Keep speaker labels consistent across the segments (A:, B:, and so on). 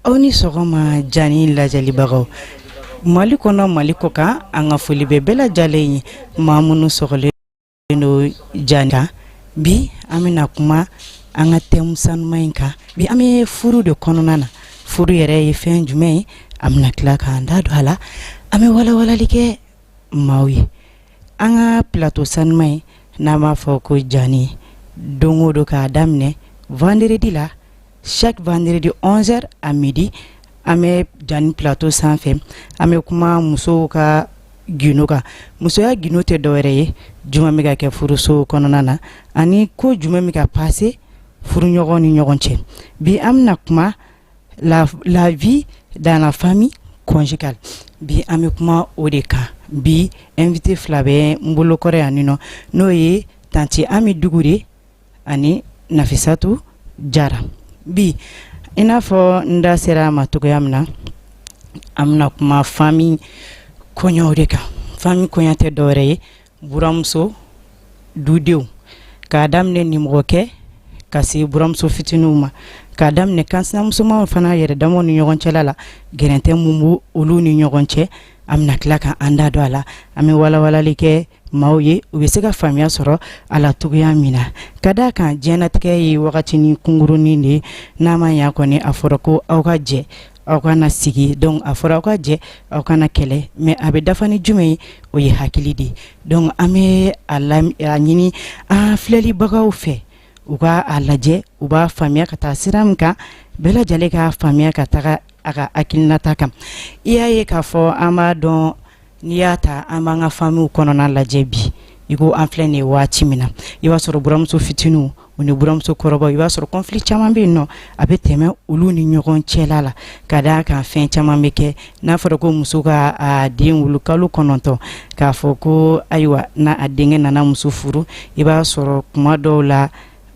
A: aw ni sɔgɔma jani lajɛlibagaw mali kɔnɔ mali kɔkan an ka foli bɛ bɛɛ lajɛlen ye maa minnu sɔgɔlen don jani kan bi an bɛna kuma an ka thème sanuma in kan bi an bɛ furu de kɔnɔna na furu yɛrɛ ye fɛn jumɛn ye an bɛna tila k'an da don a la an bɛ walawalali kɛ maaw ye an ka plateau sanuma in n'an b'a fɔ ko jani don o don k'a daminɛ vendredi la chaque vendredi onze heures à midi An bɛ jani plateau sanfɛ an bɛ kuma musow ka gindo kan musoya gindo tɛ dɔwɛrɛ ye jumɛn bɛ ka kɛ furuso kɔnɔna na ani ko jumɛn bɛ ka passé furuɲɔgɔn ni ɲɔgɔn cɛ bi an bɛna kuma la vie dans la famille conjugale bi an bɛ kuma o de kan bi invité fila bɛ n bolo kɔrɔ yan nin nɔ n'o ye tanti ami dugure ani nafisatu jara bi i n'a fɔ n da sera a ma cogoya min na an bɛna kuma famille koɲaw de kan famille koɲa tɛ dɔwɛrɛ ye buramuso dudenw k'a daminɛ nimɔgɔkɛ ka se buramuso fitininw ma k'a daminɛ kansinamusomaw fana yɛrɛ damaw ni ɲɔgɔn cɛla la gɛrɛntɛ min b'olu ni ɲɔgɔn cɛ an bɛna tila ka an da don a la an bɛ walawalali kɛ maaw ye u bɛ se ka faamuya sɔrɔ a la cogoya min na ka d'a kan diɲɛnatigɛ ye wagatinin kunkurunnin de ye n'a ma ɲa kɔni a fɔra ko aw ka jɛ aw ka na sigi donc a fɔra aw ka jɛ aw kana kɛlɛ mais a bɛ dafa ni jumɛn ye o ye hakili de ye donc an bɛ a ɲini an filɛlibagaw fɛ u ka a lajɛ u b'a faamuya ka taa sira min kan bɛɛ lajɛlen k'a faamuya ka taga a ka hakilinata kan i y'a ye k'a fɔ an b'a dɔn n'i y'a ta an b'an ka famillew kɔnɔna lajɛ bi i ko an filɛ nin waati min na i b'a sɔrɔ buramuso fitinin u ni buramuso kɔrɔba i b'a sɔrɔ conflit caman bɛ yen nɔ a bɛ tɛmɛ olu ni ɲɔgɔn cɛla la ka d'a kan fɛn caman bɛ kɛ n'a fɔra ko muso ka den wolo kalo kɔnɔntɔn k'a fɔ ko ayiwa n'a a denkɛ nana muso furu i b'a sɔrɔ kuma dɔw la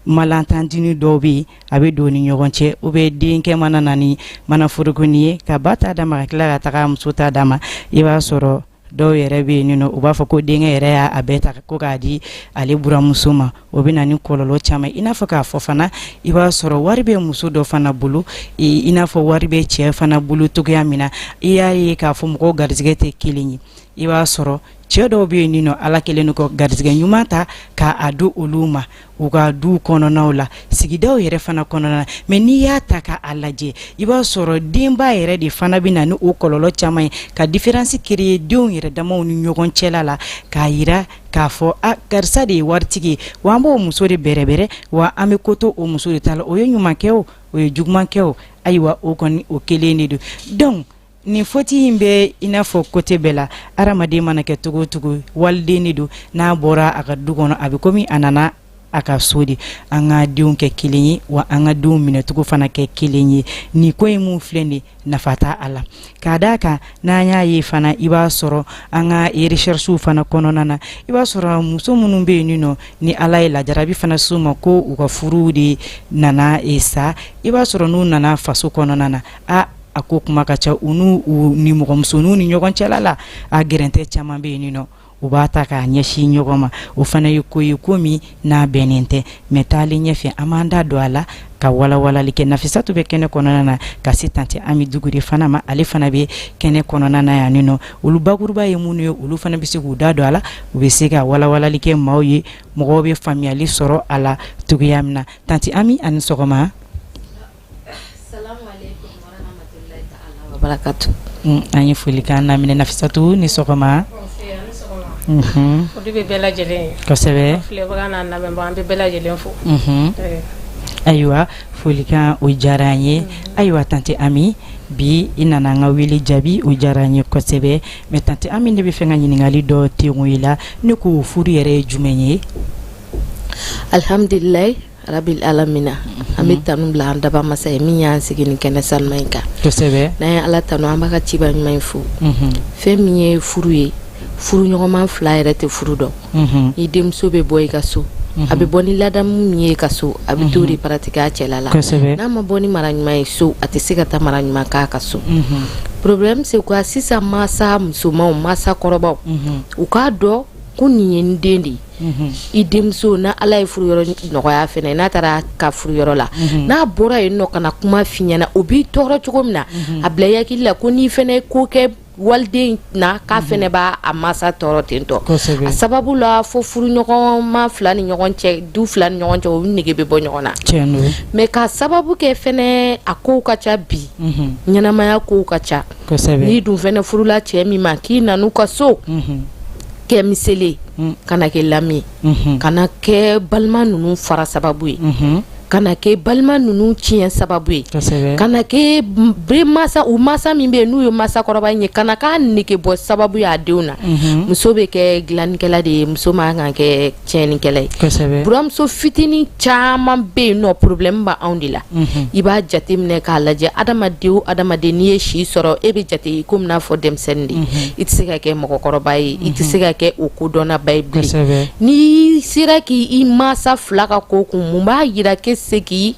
A: Malentendu dɔw bɛ yen a bɛ don ni ɲɔgɔn cɛ u bɛ denkɛ mana na ni mana forokonin ye ka ba ta d'a ma ka tila ka taga muso ta d'a ma i b'a sɔrɔ dɔw yɛrɛ bɛ yen u b'a fɔ ko denkɛ yɛrɛ y'a bɛɛ ta ko k'a di ale buramuso ma o bɛ na ni kɔlɔlɔ caman i n'a fɔ k'a fɔ fana i b'a sɔrɔ wari bɛ muso dɔ fana bolo i n'a fɔ wari bɛ cɛ fana bolo cogoya min na i y'a ye k'a fɔ mɔgɔw garijɛgɛ tɛ kelen ye i b'a sɔrɔ cɛɛ dɔw bɛ yen ninɔ ala kɛlen don ka garisigɛ ɲuman ta ka a di olu ma u ka duw kɔnɔnaw la sigidaw yɛrɛ fana kɔnɔna na mais n'i y'a ta ka a lajɛ i b'a sɔrɔ denba yɛrɛ de fana bɛ na ni o kɔlɔlɔ caman ye ka différence créer denw yɛrɛ damaw ni ɲɔgɔn cɛla la k'a yira k'a fɔ a karisa de ye waritigi ye wa an b'o muso de bɛrɛbɛrɛ wa an bɛ ko to o muso de ta la o ye ɲuman kɛ o o ye juguman kɛ o ayiwa o kɔni o kelen de don donc nin faute in bɛ i n'a fɔ côté bɛɛ la adamaden mana kɛ cogo o cogo waliden de don n'a bɔra a ka du kɔnɔ a bɛ komi a nana a ka so de an ka denw kɛ kelen ye wa an ka denw minɛcogo fana kɛ kelen ye nin ko in min filɛ nin nafa t'a la k'a d'a kan n'an y'a ye fana i b'a sɔrɔ an ka recherches fana kɔnɔna na i b'a sɔrɔ muso minnu bɛ yen nɔ ni ala ye lajarabi fana s'u ma ko u ka furu de nana sa i b'a sɔrɔ n'u nana faso kɔnɔna na aa a ko kuma ka ca u n'u nimɔgɔmusoninw ni ɲɔgɔn cɛla la a gɛrɛntɛ caman bɛ yen nɔ u b'a ta k'a ɲɛsin ɲɔgɔn ma o fana ye ko ye ko min n'a bɛnnen tɛ mais taalen ɲɛfɛ an b'an da don a la ka walawalali kɛ Nafisatu bɛ kɛnɛ kɔnɔna na ka se tante Ami Dukure fana ma ale fana bɛ kɛnɛ kɔnɔna na yan nɔ olu bakuruba ye minnu ye olu fana bɛ se k'u da don a la u bɛ se ka walawalali kɛ maaw ye mɔgɔw bɛ faamuyali sɔrɔ a la cogoya min na tante Ami a ni sɔgɔma
B: An ye foli
A: ka lamminɛsatu ni sɔgɔma ayiwa folikan o diyara an ye ayiwa tante ami bi i nana an ka wele jaabi o diyara an ye kosɛbɛ mɛ tantɛ an min de bɛ fɛ ka ɲininkakali dɔ teko i la ne k'o furu yɛrɛ ye jumɛn ye alihamdulila
B: rabil alamina an bɛ tanu bila an dabaa masa ye min y'an sigi nin kɛnɛ sanuman in kan n'an ye
A: ala tanu an
B: b'a ka ciba ɲuman in fo fɛn min ye furu ye furuɲɔgɔnma fila yɛrɛ tɛ furu dɔn ni denmuso bɛ bɔ i ka so a bɛ bɔ ni ladamu min ye i ka so a bɛ t'o de pratiquer a cɛla la n'a ma bɔ ni mara ɲuman ye so a tɛ se ka taa mara ɲuman k'a ka so problème c'est quoi sisan masa musomanw masa kɔrɔbaw u k'a dɔn ko nin ye n den de ye i denmuso n'ala ye furu yɔrɔ nɔgɔya fɛnɛ n'a taara ka furu yɔrɔ la n'a bɔra yen nɔ ka na kuma f'i ɲɛ na o b'i tɔɔrɔ cogo min na a bila i hakili la ko n'i fɛnɛ ye ko kɛ waliden na k'a fɛnɛ b'a masa tɔɔrɔ ten to a sababu la fo furuɲɔgɔnma fila ni ɲɔgɔn cɛ du fila ni ɲɔgɔn cɛ o nege bɛ bɔ ɲɔgɔn na mais k'a sababu kɛ fɛnɛ a kow ka ca bi ɲɛnamaya kow ka ca n'i dun fɛnɛ furula cɛ min ma k'i nan'u ka so kɛ miseli kana kɛ lami kana kɛ balima ninnu fara sababu ye kana kɛ balima ninnu tiɲɛ sababu ye kana kɛ masa u masa min bɛ n'u ye masakɔrɔba in ye kana k'a nege bɔ sababu ye a denw na muso bɛ kɛ dilannikɛla de ye muso man kan kɛ tiɲɛnikɛla ye buramuso fitinin caman bɛ yen nɔ problème bɛ anw de la mhm. i b'a jate minɛ k'a lajɛ adamaden o adamaden n'i ye si sɔrɔ e bɛ jate i komi n'a fɔ denmisɛnnin de mhm. i tɛ se ka kɛ mɔgɔkɔrɔba ye i tɛ se mhm. ka kɛ o kodɔnnaba ye bilen n'i sera k'i masa fila ka ko kun mun b'a jira k'e se k'i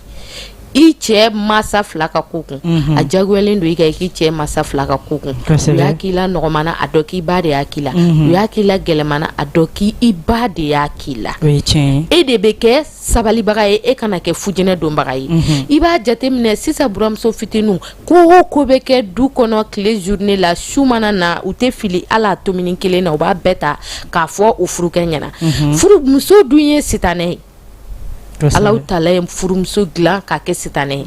B: i cɛ masa fila ka ko kun a jagoyalen don i kan k'i cɛ masa fila ka ko kun u y'a k'i la nɔgɔman na a dɔn k'i ba de y'a k'i la u y'a k'i la gɛlɛman na a dɔn k' i ba de y'a k'i la e de bɛ kɛ sabalibaga ye e kana kɛ fujɛnɛ donbaga ye i b'a jateminɛ sisan buramuso fitininw ko o ko bɛ kɛ du kɔnɔ tile journée la su mana na u tɛ fili a la tomi kelen na u b'a bɛɛ ta k'a fɔ u furukɛ ɲɛna furumuso dun ye sitanɛ ye Ala Taala ye furumuso dilan k'a kɛ sitanɛ ye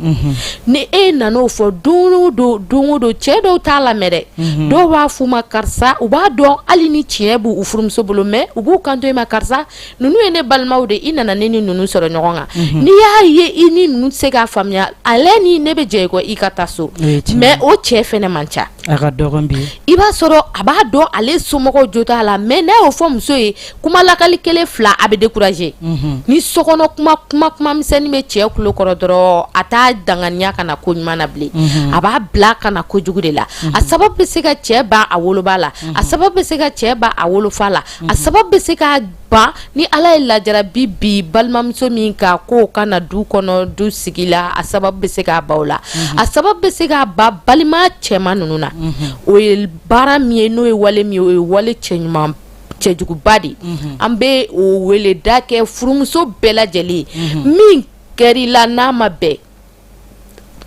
B: ni e nan'o fɔ don o don don o don cɛ dɔw t'a lamɛn dɛ dɔw b'a f'u ma karisa u b'a dɔn hali ni tiɲɛ b' u furumuso bolo mais u b'u kanto i ma karisa ninnu ye ne balimaw de i nana ne ni ninnu sɔrɔ ɲɔgɔn kan n'i y'a ye i ni ninnu tɛ se k'a faamuya ale ni ne bɛ jɛ i kɔ i ka taa so mais o cɛ fɛnɛ man ca i b'a sɔrɔ a b'a dɔn ale somɔgɔw jo t'a la mais n'a y'o fɔ muso ye kuma lakali kelen fila a bɛ décourager mhm. ni sokɔnɔ kuma kuma kuma misɛnnin bɛ cɛ tulo kɔrɔ dɔrɔn a t'a danganiya ka na ko ɲuman na bilen mhm. a b'a bila ka na kojugu de la mhm. a sababu bɛ se ka cɛ ban a woloba la a sababu bɛ se ka cɛ ban a wolofa la a sababu bɛ se ka ban ni ala ye lajarabi bi balimamuso min ka ko ka na du kɔnɔ du sigi la a sababu bɛ se k'a ban o la mhm. a sababu bɛ se k'a ban balima cɛman ninnu na mhm. o ye baara min ye n'o ye wale min ye o ye wale cɛɲuman cɛjuguba de an bɛ o wele da kɛ furumuso bɛɛ lajɛlen min kɛr'i la n'a ma bɛn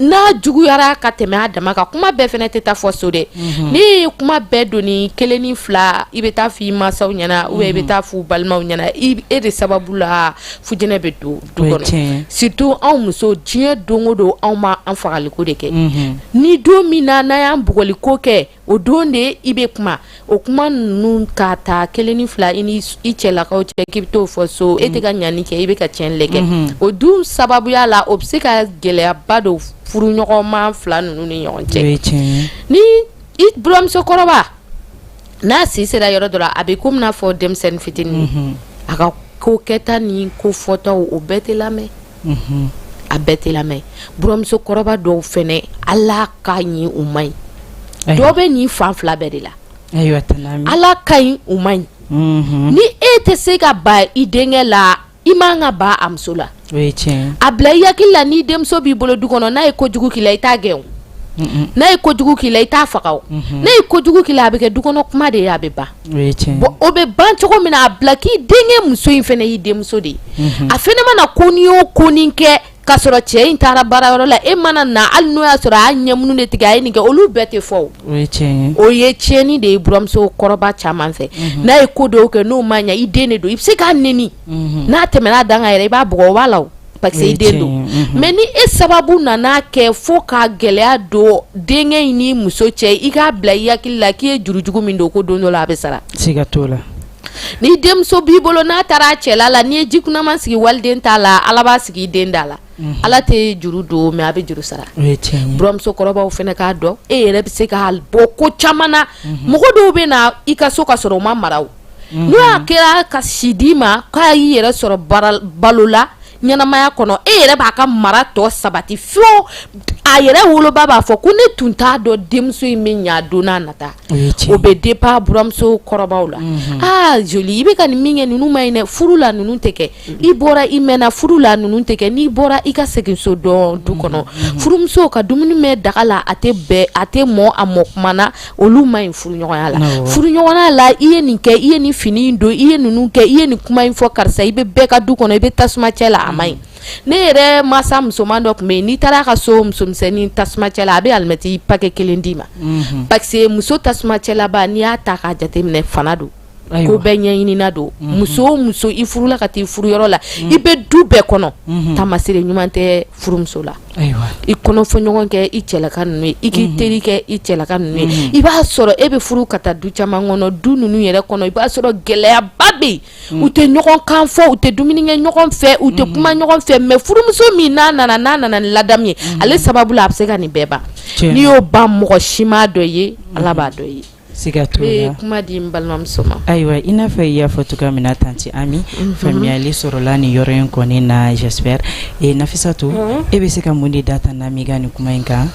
B: n'a juguyara ka tɛmɛ a dama kan kuma bɛɛ fɛnɛ tɛ taa fɔ so dɛ ni e ye kuma bɛɛ doni kelen ni fila i bɛ taa fɔ i masaw ɲɛna ou bien i bɛ taa f'u balimaw ɲɛna e de sababu la fujɛnɛ bɛ don du kɔnɔ surtout anw muso diɲɛ don o don anw ma an fagaliko de kɛ ni don min na n'a y'an bugɔliko kɛ o don de i bɛ kuma o kuma ninnu ka ta kelen ni fila i ni i cɛlakaw cɛ k'i bɛ t'o fɔ so e tɛ ka ɲani kɛ i bɛ ka tiɲɛni de kɛ o dun sababuya la o bɛ se ka gɛlɛyaba don furuɲɔgɔnma fila ninnu ni ɲɔgɔn cɛ ni i buramusokɔrɔba n'a si sera yɔrɔ dɔ la a bɛ komi n'a fɔ denmisɛnnin fitinin a ka ko kɛta ni ko fɔtaw o bɛɛ tɛ lamɛn a bɛɛ tɛ lamɛn buramuso kɔrɔba dɔw fɛnɛ ala ka ɲi u ma ɲi dɔ bɛ nin fan fila bɛɛ de la ala ka ɲi u ma ɲi ni e tɛ se ka ba i denkɛ la i ma ka ba a muso la a bila i hakili la ni denmuso b'i bolo du kɔnɔ n'a ye ko jugu k'i la i t'a gɛn n'a ye ko jugu k'i la i t'a faga n'a ye ko jugu k'i la a bɛ kɛ du kɔnɔ kuma de ye a bɛ ban o bɛ ban cogo min na a bila k'i denkɛ muso in fɛnɛ y'i denmuso de ye a fɛnɛ mana ko nin o ko nin kɛ ka sɔrɔ cɛ in taara baara yɔrɔ la e mana na hali n'o y'a sɔrɔ a y'a ɲɛmunu de tigɛ a ye nin kɛ olu bɛɛ tɛ fɔ o ye tiɲɛni de ye buramuso kɔrɔba caman fɛ n'a ye ko dɔw kɛ n'o ma ɲɛ i den de don i bɛ se k'a nɛni n'a tɛmɛna a dan kan yɛrɛ i b'a bugɔ o b'a la Parce que i den don mais ni e sababu nana kɛ fo ka gɛlɛya don denkɛ in ni muso cɛ i k'a bila i hakili la k'i ye jurujugu min don ko don dɔ la a bɛ sara ni denmuso b'i bolo n'a taara a cɛla la n'i ye ji kunaman sigi waliden da la ala b'a sigi i den da la ala tɛ juru don mais a bɛ juru sara buramuso kɔrɔbaw fɛnɛ k'a dɔn e yɛrɛ bɛ se k'a bɔ ko caman na mɔgɔ dɔw bɛ na i ka so ka sɔrɔ o ma mara n'o y'a kɛra ka si d'i ma k'a y'i yɛrɛ sɔrɔ balo la ɲɛnamaya kɔnɔ e yɛrɛ b'a ka mara tɔ sabati fo a yɛrɛ woloba b'a fɔ ko ne tun t'a dɔn denmuso in bɛ ɲɛ don n'a nata o bɛ dépend buramuso kɔrɔbaw la aa joli i bɛ ka nin min kɛ ninnu ma ɲi dɛ furu la ninnu tɛ kɛ i bɔra i mɛnna furu la ninnu tɛ kɛ n'i bɔra i ka seginso dɔn du kɔnɔ furumuso ka dumuni mɛn daga la a tɛ a tɛ mɔ a mɔ kuma na olu ma ɲi furuɲɔgɔnya la furuɲɔgɔnya la i ye nin kɛ i ye nin fini in don i ye ninnu kɛ i ye nin kuma in fɔ karisa i bɛ bɛɛ ka du kɔnɔ i bɛ tasuma cɛ la a ma ɲi ne yɛrɛ masa musoman dɔ tun bɛ yen n'i taara a ka so musomisɛnnin tasuma cɛ la a bɛ alimɛti pakɛ kelen d'i ma parce que muso tasuma cɛlaba n'i y'a ta k'a jateminɛ fana don ko bɛɛ ɲɛɲinina don muso o muso i furula ka taa i furu yɔrɔ la i bɛ du bɛɛ kɔnɔ tamasire ɲuman tɛ furumuso la i kɔnɔ fɔ ɲɔgɔn kɛ i cɛlaka ninnu ye i k'i teri kɛ i cɛlaka ninnu ye i b'a sɔrɔ e bɛ furu ka taa du caman kɔnɔ du ninnu yɛrɛ kɔnɔ i b'a sɔrɔ gɛlɛyaba bɛ yen u tɛ ɲɔgɔn kan fɔ u tɛ dumuni kɛ ɲɔgɔn fɛ u tɛ kuma ɲɔgɔn fɛ mais furumuso min n'a nana n'a nana ni ladamu ye ale sababu la a bɛ se ka nin bɛɛ ban n'i y'o ban mɔgɔ si m'a dɔn i ye ala b'a dɔn i ye Siga t'o la, ne ye
A: kuma di n balimamuso
B: ma, ayiwa i n'a fɔ i y'a
A: fɔ cogoya min na tante Ami, unhun, faamuyali sɔrɔla nin yɔrɔ in kɔni na j'espère et Nafissatou unhun, e bɛ se ka mun de da tante Ami ka nin kuma in kan,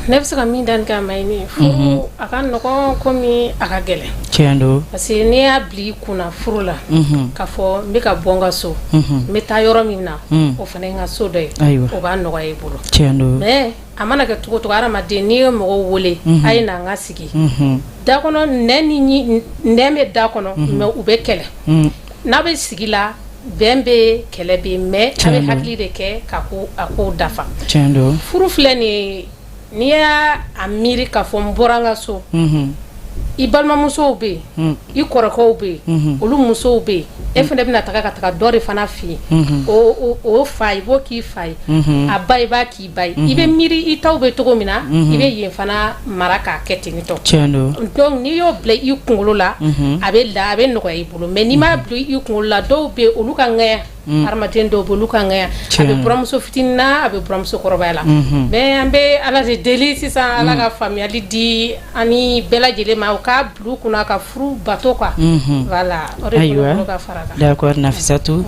A: ne bɛ se ka min
C: da nin kan Mayimui, furu a ka nɔgɔn komi a ka gɛlɛn, tiɲɛ don, parce que
A: n'i y'a bila
C: i kun na furu la, unhun, k'a fɔ n bɛ ka bɔ n ka so, unhun, n bɛ taa yɔrɔ min na, un, o fana ye n ka so dɔ ye, ayiwa, o b'a nɔgɔya i bolo, tiɲɛ don mais
A: a mana
C: kɛ cogo o cogo hadamaden n'i ye mɔgɔw wele a ye n'an ka sigi da kɔnɔ nɛn bɛ da kɔnɔ mais u bɛ kɛlɛ n'a bɛ sigi la bɛn bɛ kɛlɛ bɛ yen mais a bɛ hakili de kɛ ka ko a ko dafa
A: furu filɛ nin
C: n'i y'a miiri k'a fɔ n bɔra an ka so i balimamusow bɛ yen i kɔrɔkɛw bɛ yen olu musow bɛ yen e fana bɛna taga ka taga dɔ de fana fɛ yen o fa i b'o k'i fa ye a ba i b'a K'i ba ye i bɛ miiri i taw bɛ cogo min na i bɛ yen fana mara k'a kɛ ten nitɔ donc
A: n'i y'o
C: bila i kunkolo la a bɛ a bɛ nɔgɔya i bolo mais n'i m'a bila i kunkolo la dɔw bɛ olu ka ŋya hadamaden dɔw bɛ olu ka ŋya a bɛ buramuso fitinin na a bɛ buramuso kɔrɔbaya la mais an bɛ ala de deli sisan ala ka faamuyali di an bɛɛ lajɛlen ma u k'a bila u kun na ka furu bato quoi voilà ayiwa fara nafisatu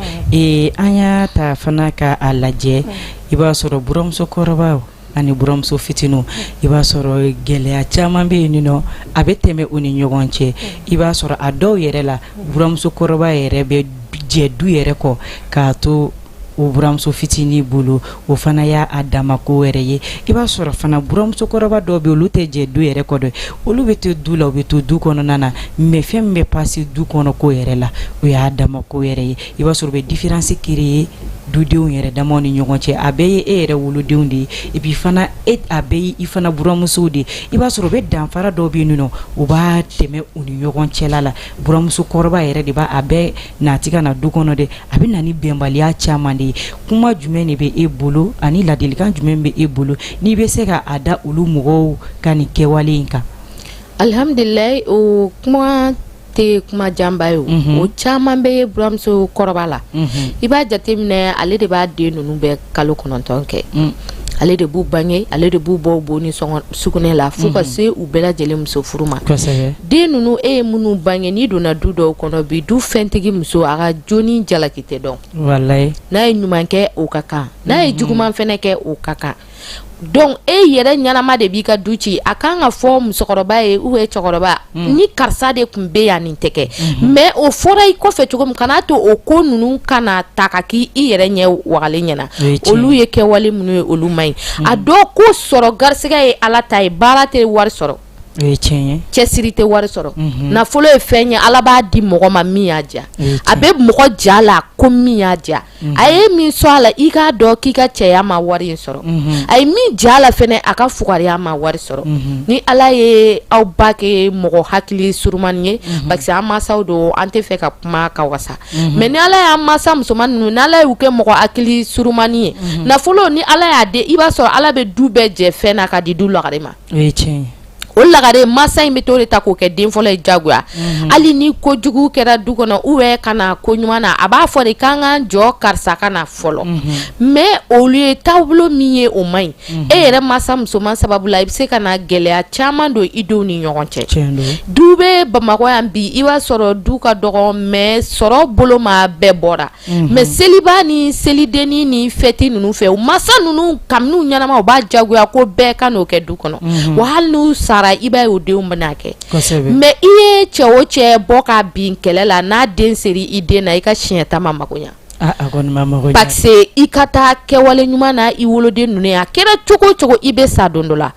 A: an y'a ta fana ka a lajɛ i b'a sɔrɔ buramuso kɔrɔbaw ani buramuso fitinin i b'a sɔrɔ gɛlɛya caman bɛ yen nɔ a bɛ tɛmɛ u ni ɲɔgɔn cɛ i b'a sɔrɔ a dɔw yɛrɛ la buramuso kɔrɔba yɛrɛ bɛ jɛ du yɛrɛ kɔ k'a to o buramuso fitinin bolo o fana y'a dama ko wɛrɛ ye i b'a sɔrɔ fana buramuso kɔrɔba dɔw bɛ olu tɛ jɛ du yɛrɛ kɔ dɛ olu bɛ to du la u bɛ to du kɔnɔna na mais fɛn min bɛ passer du kɔnɔ ko yɛrɛ la o y'a dama ko wɛrɛ ye i b'a sɔrɔ u bɛ différence créer dudenw yɛrɛ damaw ni ɲɔgɔn cɛ a bɛɛ ye e yɛrɛ wolodenw de ye et puis fana a bɛɛ ye i fana buramusow de ye i b'a sɔrɔ u bɛ danfara dɔ bɛ yen nɔ u b'a tɛmɛ u ni ɲɔgɔn cɛla la buramuso kɔrɔba yɛrɛ de b'a a bɛɛ nati ka na du kɔnɔ dɛ a bɛ na ni bɛnbaliya caman de ye kuma jumɛn de bɛ e bolo ani ladilikan jumɛn bɛ e bolo n'i bɛ se ka a da olu mɔgɔw ka nin kɛwale in kan alihamdulilayi
B: o kuma tɛ kuma janba ye o mhm. o caman bɛ ye buramuso kɔrɔba la mhm. i b'a jateminɛ ale de b'a den ninnu bɛɛ kalo kɔnɔntɔn kɛ mm. ale de b'u bange ale de b'u bɔ bo ni sugunɛ la fo ka mhm. se u bɛɛ lajɛlen muso furu ma den ninnu e ye minnu bange n'i donna du dɔw kɔnɔ bi du fɛntigi muso a ka jo ni jalaki tɛ dɔn n'a ye
A: ɲuman kɛ
B: o ka kan n'a ye juguman fɛnɛ kɛ o ka kan donc e yɛrɛ ɲanama de b'i ka du ci a ka kan ka fɔ musokɔrɔba ye ou bien cɛkɔrɔba mm. ni karisa de tun bɛ yan nin tɛ kɛ mm-hmm. mais o fɔra i kɔfɛ cogo min kana a to o ko ninnu kana ta ka k'i yɛrɛ ɲɛ wagalen ɲɛ na olu ye kɛwale minnu ye olu man ɲi mm. a dɔw ko sɔrɔ garisɛgɛ ye ala ta ye baara tɛ wari sɔrɔ cɛsiri tɛ wari sɔrɔ mm-hmm. nafolo ye fɛn ye ala b'a di mɔgɔ ma min y'a diya a bɛ mɔgɔ ja la ko min y'a diya a ye min sɔrɔ a la i k'a dɔn k'i ka cɛya ma wari in sɔrɔ a ye min ja la fɛnɛ a ka fugariya ma wari sɔrɔ ni ala ye aw ba kɛ mɔgɔ hakili surunmani ye parce que an masaw don an tɛ fɛ ka kuma ka wasa mais ni ala y'an masa musoman ninnu ni ala y'u kɛ mɔgɔ hakili surunmani ye nafolo ni ala y'a di i b'a sɔrɔ ala bɛ du bɛɛ jɛ fɛn na ka di du lagare ma o lagare masa in bɛ to de ta k'o kɛ den fɔlɔ ye jagoya mhm. hali ni ko jugu kɛra du kɔnɔ u bɛ ka na ko ɲuman na a b'a fɔ de k'an ka jɔ karisa ka na fɔlɔ mhm. mais olu ye taabolo min ye o man ɲi mhm. e yɛrɛ masa musoman sababu la i bɛ se ka na gɛlɛya caman don i denw ni ɲɔgɔn cɛ du bɛ bamakɔ yan bi i b'a sɔrɔ du ka dɔgɔ mais sɔrɔ bolo ma bɛɛ bɔra mais seliba ni selidennin ni fɛti ninnu fɛ u masa ninnu kabini u ɲɛnama u b'a jagoya ko bɛɛ ka n'o kɛ du kɔnɔ wa hali n'u sara i b'a ye o denw bɛna kɛ mais i ye cɛ o cɛ bɔ ka bin kɛlɛ la n'a den sera i den na i ka siɲɛta ma mako ɲɛ parce que i ka taa kɛwale ɲuman na i woloden ninnu ye a kɛra cogo cogo i bɛ sa don dɔ la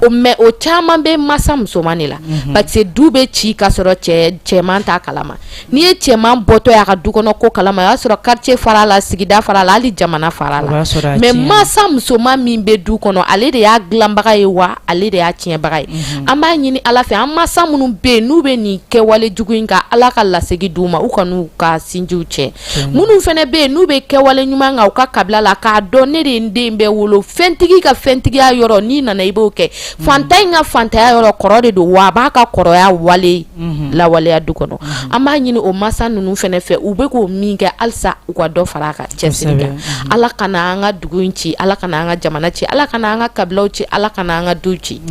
B: mais o caman bɛ masa musoman de la parce que du bɛ ci ka sɔrɔ cɛman t'a kalama N'i ye cɛman bɔtɔ y'a ka du kɔnɔ ko kalama o y'a sɔrɔ quartier far'a la sigida far'a la hali jamana far'a la mais mansa musoman min be du kɔnɔ ale de y'a dilanbaga ye wa ale de y'a tiɲɛbaga ye unhun an b'a ɲini Ala fɛ an mansa minnu be yen n'u be nin kɛwale jugu in kan Ala ka lasegin d'u ma u kan'u ka sinjiw cɛ minnu fɛnɛ be yen n'u be kɛwale ɲuman kan u ka kabila la k'a dɔn ne de ye n den bɛɛ wolo fɛntigi ka fɛntigiya yɔrɔ n'i nana i b'o kɛ fantan in ka fantanya yɔrɔ kɔrɔ de don wa a b'a ka kɔrɔya wale Mhm. lawaleya du kɔnɔ mhm. an b'a ɲini o masa ninnu fɛnɛ fɛ u bɛ ko min kɛ halisa u ka dɔ fara a ka cɛsiri kan mhm. ala kana an ka dugu in ci ala kana an ka jamana ci ala kana an ka kabilaw ci ala kana an ka du ci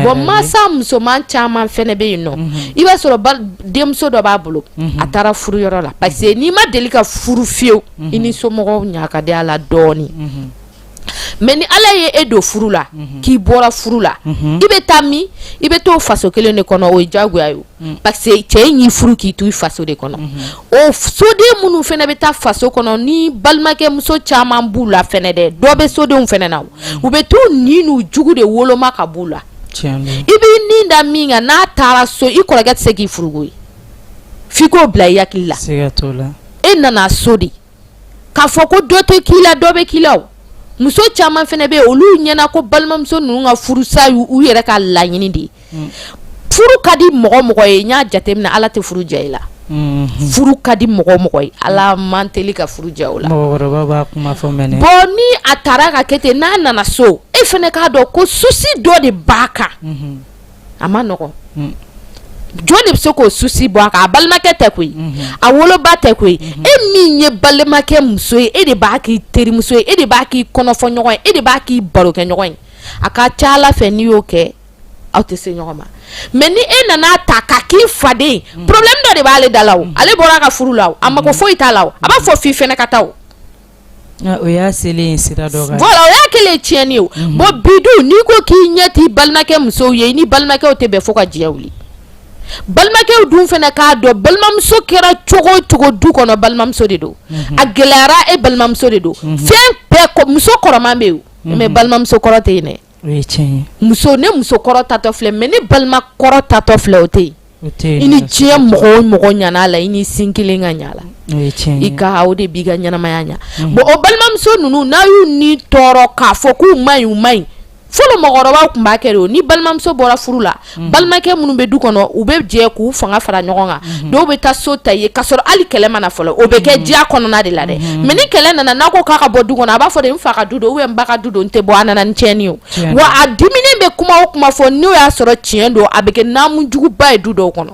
B: bon masa musoman caman fɛnɛ bɛ yen nɔ i b'a sɔrɔ denmuso dɔ b'a bolo a taara furu yɔrɔ la parce que n'i ma deli ka furu fiyewu i ni somɔgɔw ɲa ka di a la dɔɔnin mais ni ala ye e don furu la mhm. k'i bɔra furu la mhm. i bɛ taa min i bɛ to faso kelen de kɔnɔ o ye jagoya ye mhm. parce que cɛ in y'i furu k'i to i faso de kɔnɔ o soden minnu fɛnɛ bɛ taa faso kɔnɔ ni balimakɛ muso caman b'u la fɛnɛ dɛ dɔ bɛ sodenw fɛnɛ na u bɛ to ninnu jugu de woloma ka b'u la i b'i ni da min kan n'a taara so i kɔrɔkɛ tɛ se k'i furuko ye f'i k'o bila i hakili la e nana so de K'a fɔ ko dɔ tɛ k'i la dɔ bɛ k'i la. Muso caman fɛnɛ bɛ olu ɲɛna ko balimamuso ninnu ka furusa y'u yɛrɛ ka laɲini de ye. Furu ka di mɔgɔ o mɔgɔ ye n y'a jateminɛ Ala tɛ furu ja i la. Furu ka di mɔgɔ o mɔgɔ ye Ala man teli ka furu ja o la. Bon ni a taara ka kɛ ten n'a nana so e fɛnɛ k'a dɔn ko souci dɔ de b'a kan. a man nɔgɔ jɔn de bɛ se k'o souci bɔ a kan a balimakɛ tɛ koyi a woloba tɛ koyi e min ye balimakɛ muso ye e de b'a k'i terimuso ye e de b'a k'i kɔnɔfɔ ɲɔgɔn ye e de b'a k'i baro kɛ ɲɔgɔn ye a ka ca ala fɛ n'i y'o kɛ aw tɛ se ɲɔgɔn ma mais ni e nana a ta k'a k'i faden problème dɔ de b'ale da la o ale bɔra a ka furu la a mako foyi t'a la a b'a fɔ f' i fɛnɛ ka taa
A: O y'a selen sira dɔ kan voilà o y'a kɛlen
B: tiɲɛni ye o, unhun, bon bi dun n'i ko k'i ɲɛ t'i balimakɛ musow ye i ni balimakɛw tɛ bɛn fo ka diɲɛ wuli, balimakɛw dun fɛnɛ k'a dɔn balimamuso kɛra cogo o cogo du kɔnɔ balimamuso de don, unhun, a gɛlɛyara e balimamuso de don, unhun, fɛn bɛɛ muso kɔrɔman bɛ yen mais balimamuso kɔrɔ tɛ yen dɛ muso ne muso kɔrɔ tatɔ filɛ mais ne balima kɔrɔ tatɔ filɛ o tɛ yen i ni diɲɛ mɔgɔ o mɔgɔ ɲana la i ni sin kelen ka ɲa la i ka o de b'i ka ɲɛnamaya ɲa mm. bon o balimamuso ninnu n'a y'u ni tɔɔrɔ k'a fɔ k'u man ɲi u man ɲi fɔlɔ mɔgɔkɔrɔbaw tun b'a kɛ de o ni balimamuso bɔra furu la balimakɛ minnu bɛ du kɔnɔ u bɛ jɛ k'u fanga fara ɲɔgɔn kan dɔw bɛ taa so ta yen k'a sɔrɔ hali kɛlɛ mana fɔlɔ o bɛ kɛ diya kɔnɔna de la dɛ mais ni kɛlɛ nana n'a ko k'a ka bɔ du kɔnɔ a b'a fɔ de n fa ka du don n ba ka du don n tɛ bɔ a nana ni tiɲɛni ye wa a diminen bɛ kuma o kuma fɔ n'o y'a sɔrɔ tiɲɛ don a bɛ kɛ ɲaami juguba ye du dɔw kɔnɔ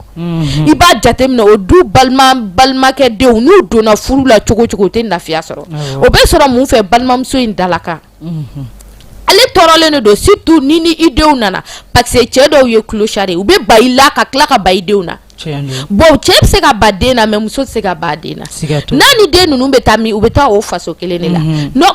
B: i b'a jateminɛ o du balima balimakɛ denw n'u donna furu la cogo o cogo u tɛ lafiya sɔrɔ o bɛ sɔrɔ mun fɛ balimamuso in dalakan ale tɔɔrɔlen de don surtout ni ni i denw nana parce que cɛ dɔw ye clochard ye u bɛ ban i la ka tila ka ban i denw na bon cɛ bɛ se ka ban den na mais muso tɛ se ka ban den na n'a ni den ninnu bɛ taa min u bɛ taa o faso kelen de la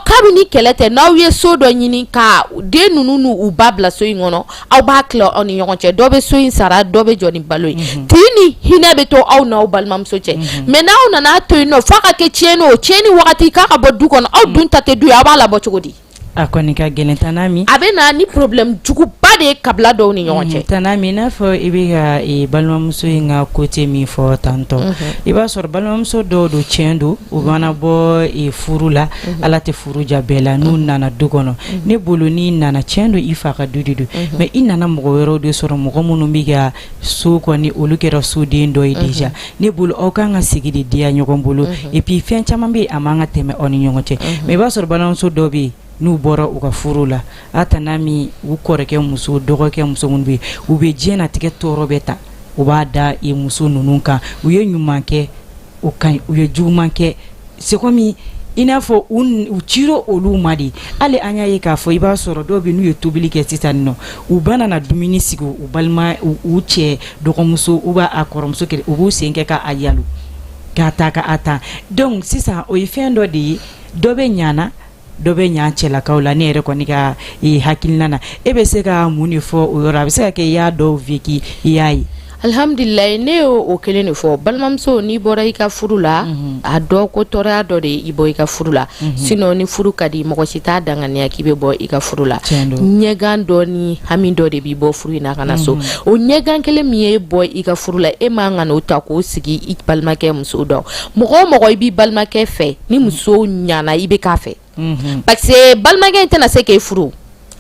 B: kabini kɛlɛ tɛ n'aw ye so dɔ ɲini ka den ninnu n'u ba bila so in kɔnɔ aw b'a tila aw ni ɲɔgɔn cɛ dɔ bɛ so in sara dɔ bɛ jɔ ni balo ye mhm. tin ni hinɛ bɛ to aw n'aw balimamuso cɛ mhm. mais n'aw nana to yen nɔ f'a ka kɛ tiɲɛni o tiɲɛni wagati k'a ka bɔ du kɔnɔ aw mhm. dun ta tɛ du ye aw b'a labɔ cogo di a kɔni ka gɛlɛn
A: tana ami a bɛ na ni
B: problème juguba de ye kabila dɔw ni ɲɔgɔn cɛ tana ami i n'a fɔ i
A: bɛ ka e, balimamuso in ka côté min fɔ tantôt i b'a sɔrɔ balimamuso dɔw don tiɲɛ don u mana bɔ e, furu la ala tɛ furu diya bɛɛ la n'u nana du kɔnɔ ne bolo n'i nana tiɲɛ don i fa ka du de don mais i nana mɔgɔ wɛrɛw de sɔrɔ mɔgɔ minnu bɛ ka so kɔni olu kɛra soden dɔ ye déjà ne bolo aw ka kan ka sigi de diya ɲɔgɔn bolo et puis fɛn caman bɛ yen a man kan ka tɛmɛ aw ni ɲɔgɔn cɛ mais i b'a sɔrɔ balimamuso dɔw bɛ yen n'u bɔra u ka furu la a tana ami u kɔrɔkɛ muso dɔgɔkɛ muso minnu bɛ yen u bɛ diɲɛnatigɛ tɔɔrɔ bɛɛ ta u b'a da i muso ninnu kan u ye ɲuman kɛ o ka ɲi u ye juguman kɛ c'est comme i n'a fɔ u u cira olu ma de hali an y'a ye k'a fɔ i b'a sɔrɔ dɔw bɛ n'u ye tobili kɛ sisan nɔ u bɛna na dumuni sigi u balima u cɛ dɔgɔmuso u b'a a kɔrɔmuso kɛ u b'u sen kɛ k'a yalo k'a ta ka a ta donc sisan o ye fɛn dɔ de ye dɔ bɛ ɲana dɔ bɛ ɲa cɛlakaw la ne yɛrɛ kɔni ka eh, hakilina na e bɛ se ka mun de fɔ o yɔrɔ a bɛ se ka kɛ i y'a dɔw vécu i y'a ye alhamdulilayi ne
B: ye o kelen de fɔ balimamuso n'i bɔra i ka furu la mhm. a dɔn ko tɔɔrɔya dɔ de i bɔ i ka furu la mhm. sinon ni furu ka di mɔgɔ si t'a danganiya k'i bɛ bɔ i ka furu la ɲɛgan dɔ ni hami dɔ de b'i bɔ furu in na ka na so mhm. o ɲɛgan kelen min y'e bɔ i ka furu la e man kan k'o ta k'o sigi i balimakɛ muso dɔ mɔgɔ o mɔgɔ i b'i balimakɛ fɛ ni muso ɲana i bɛ k'a fɛ mhm. parce que balimakɛ in tɛna se k'e furu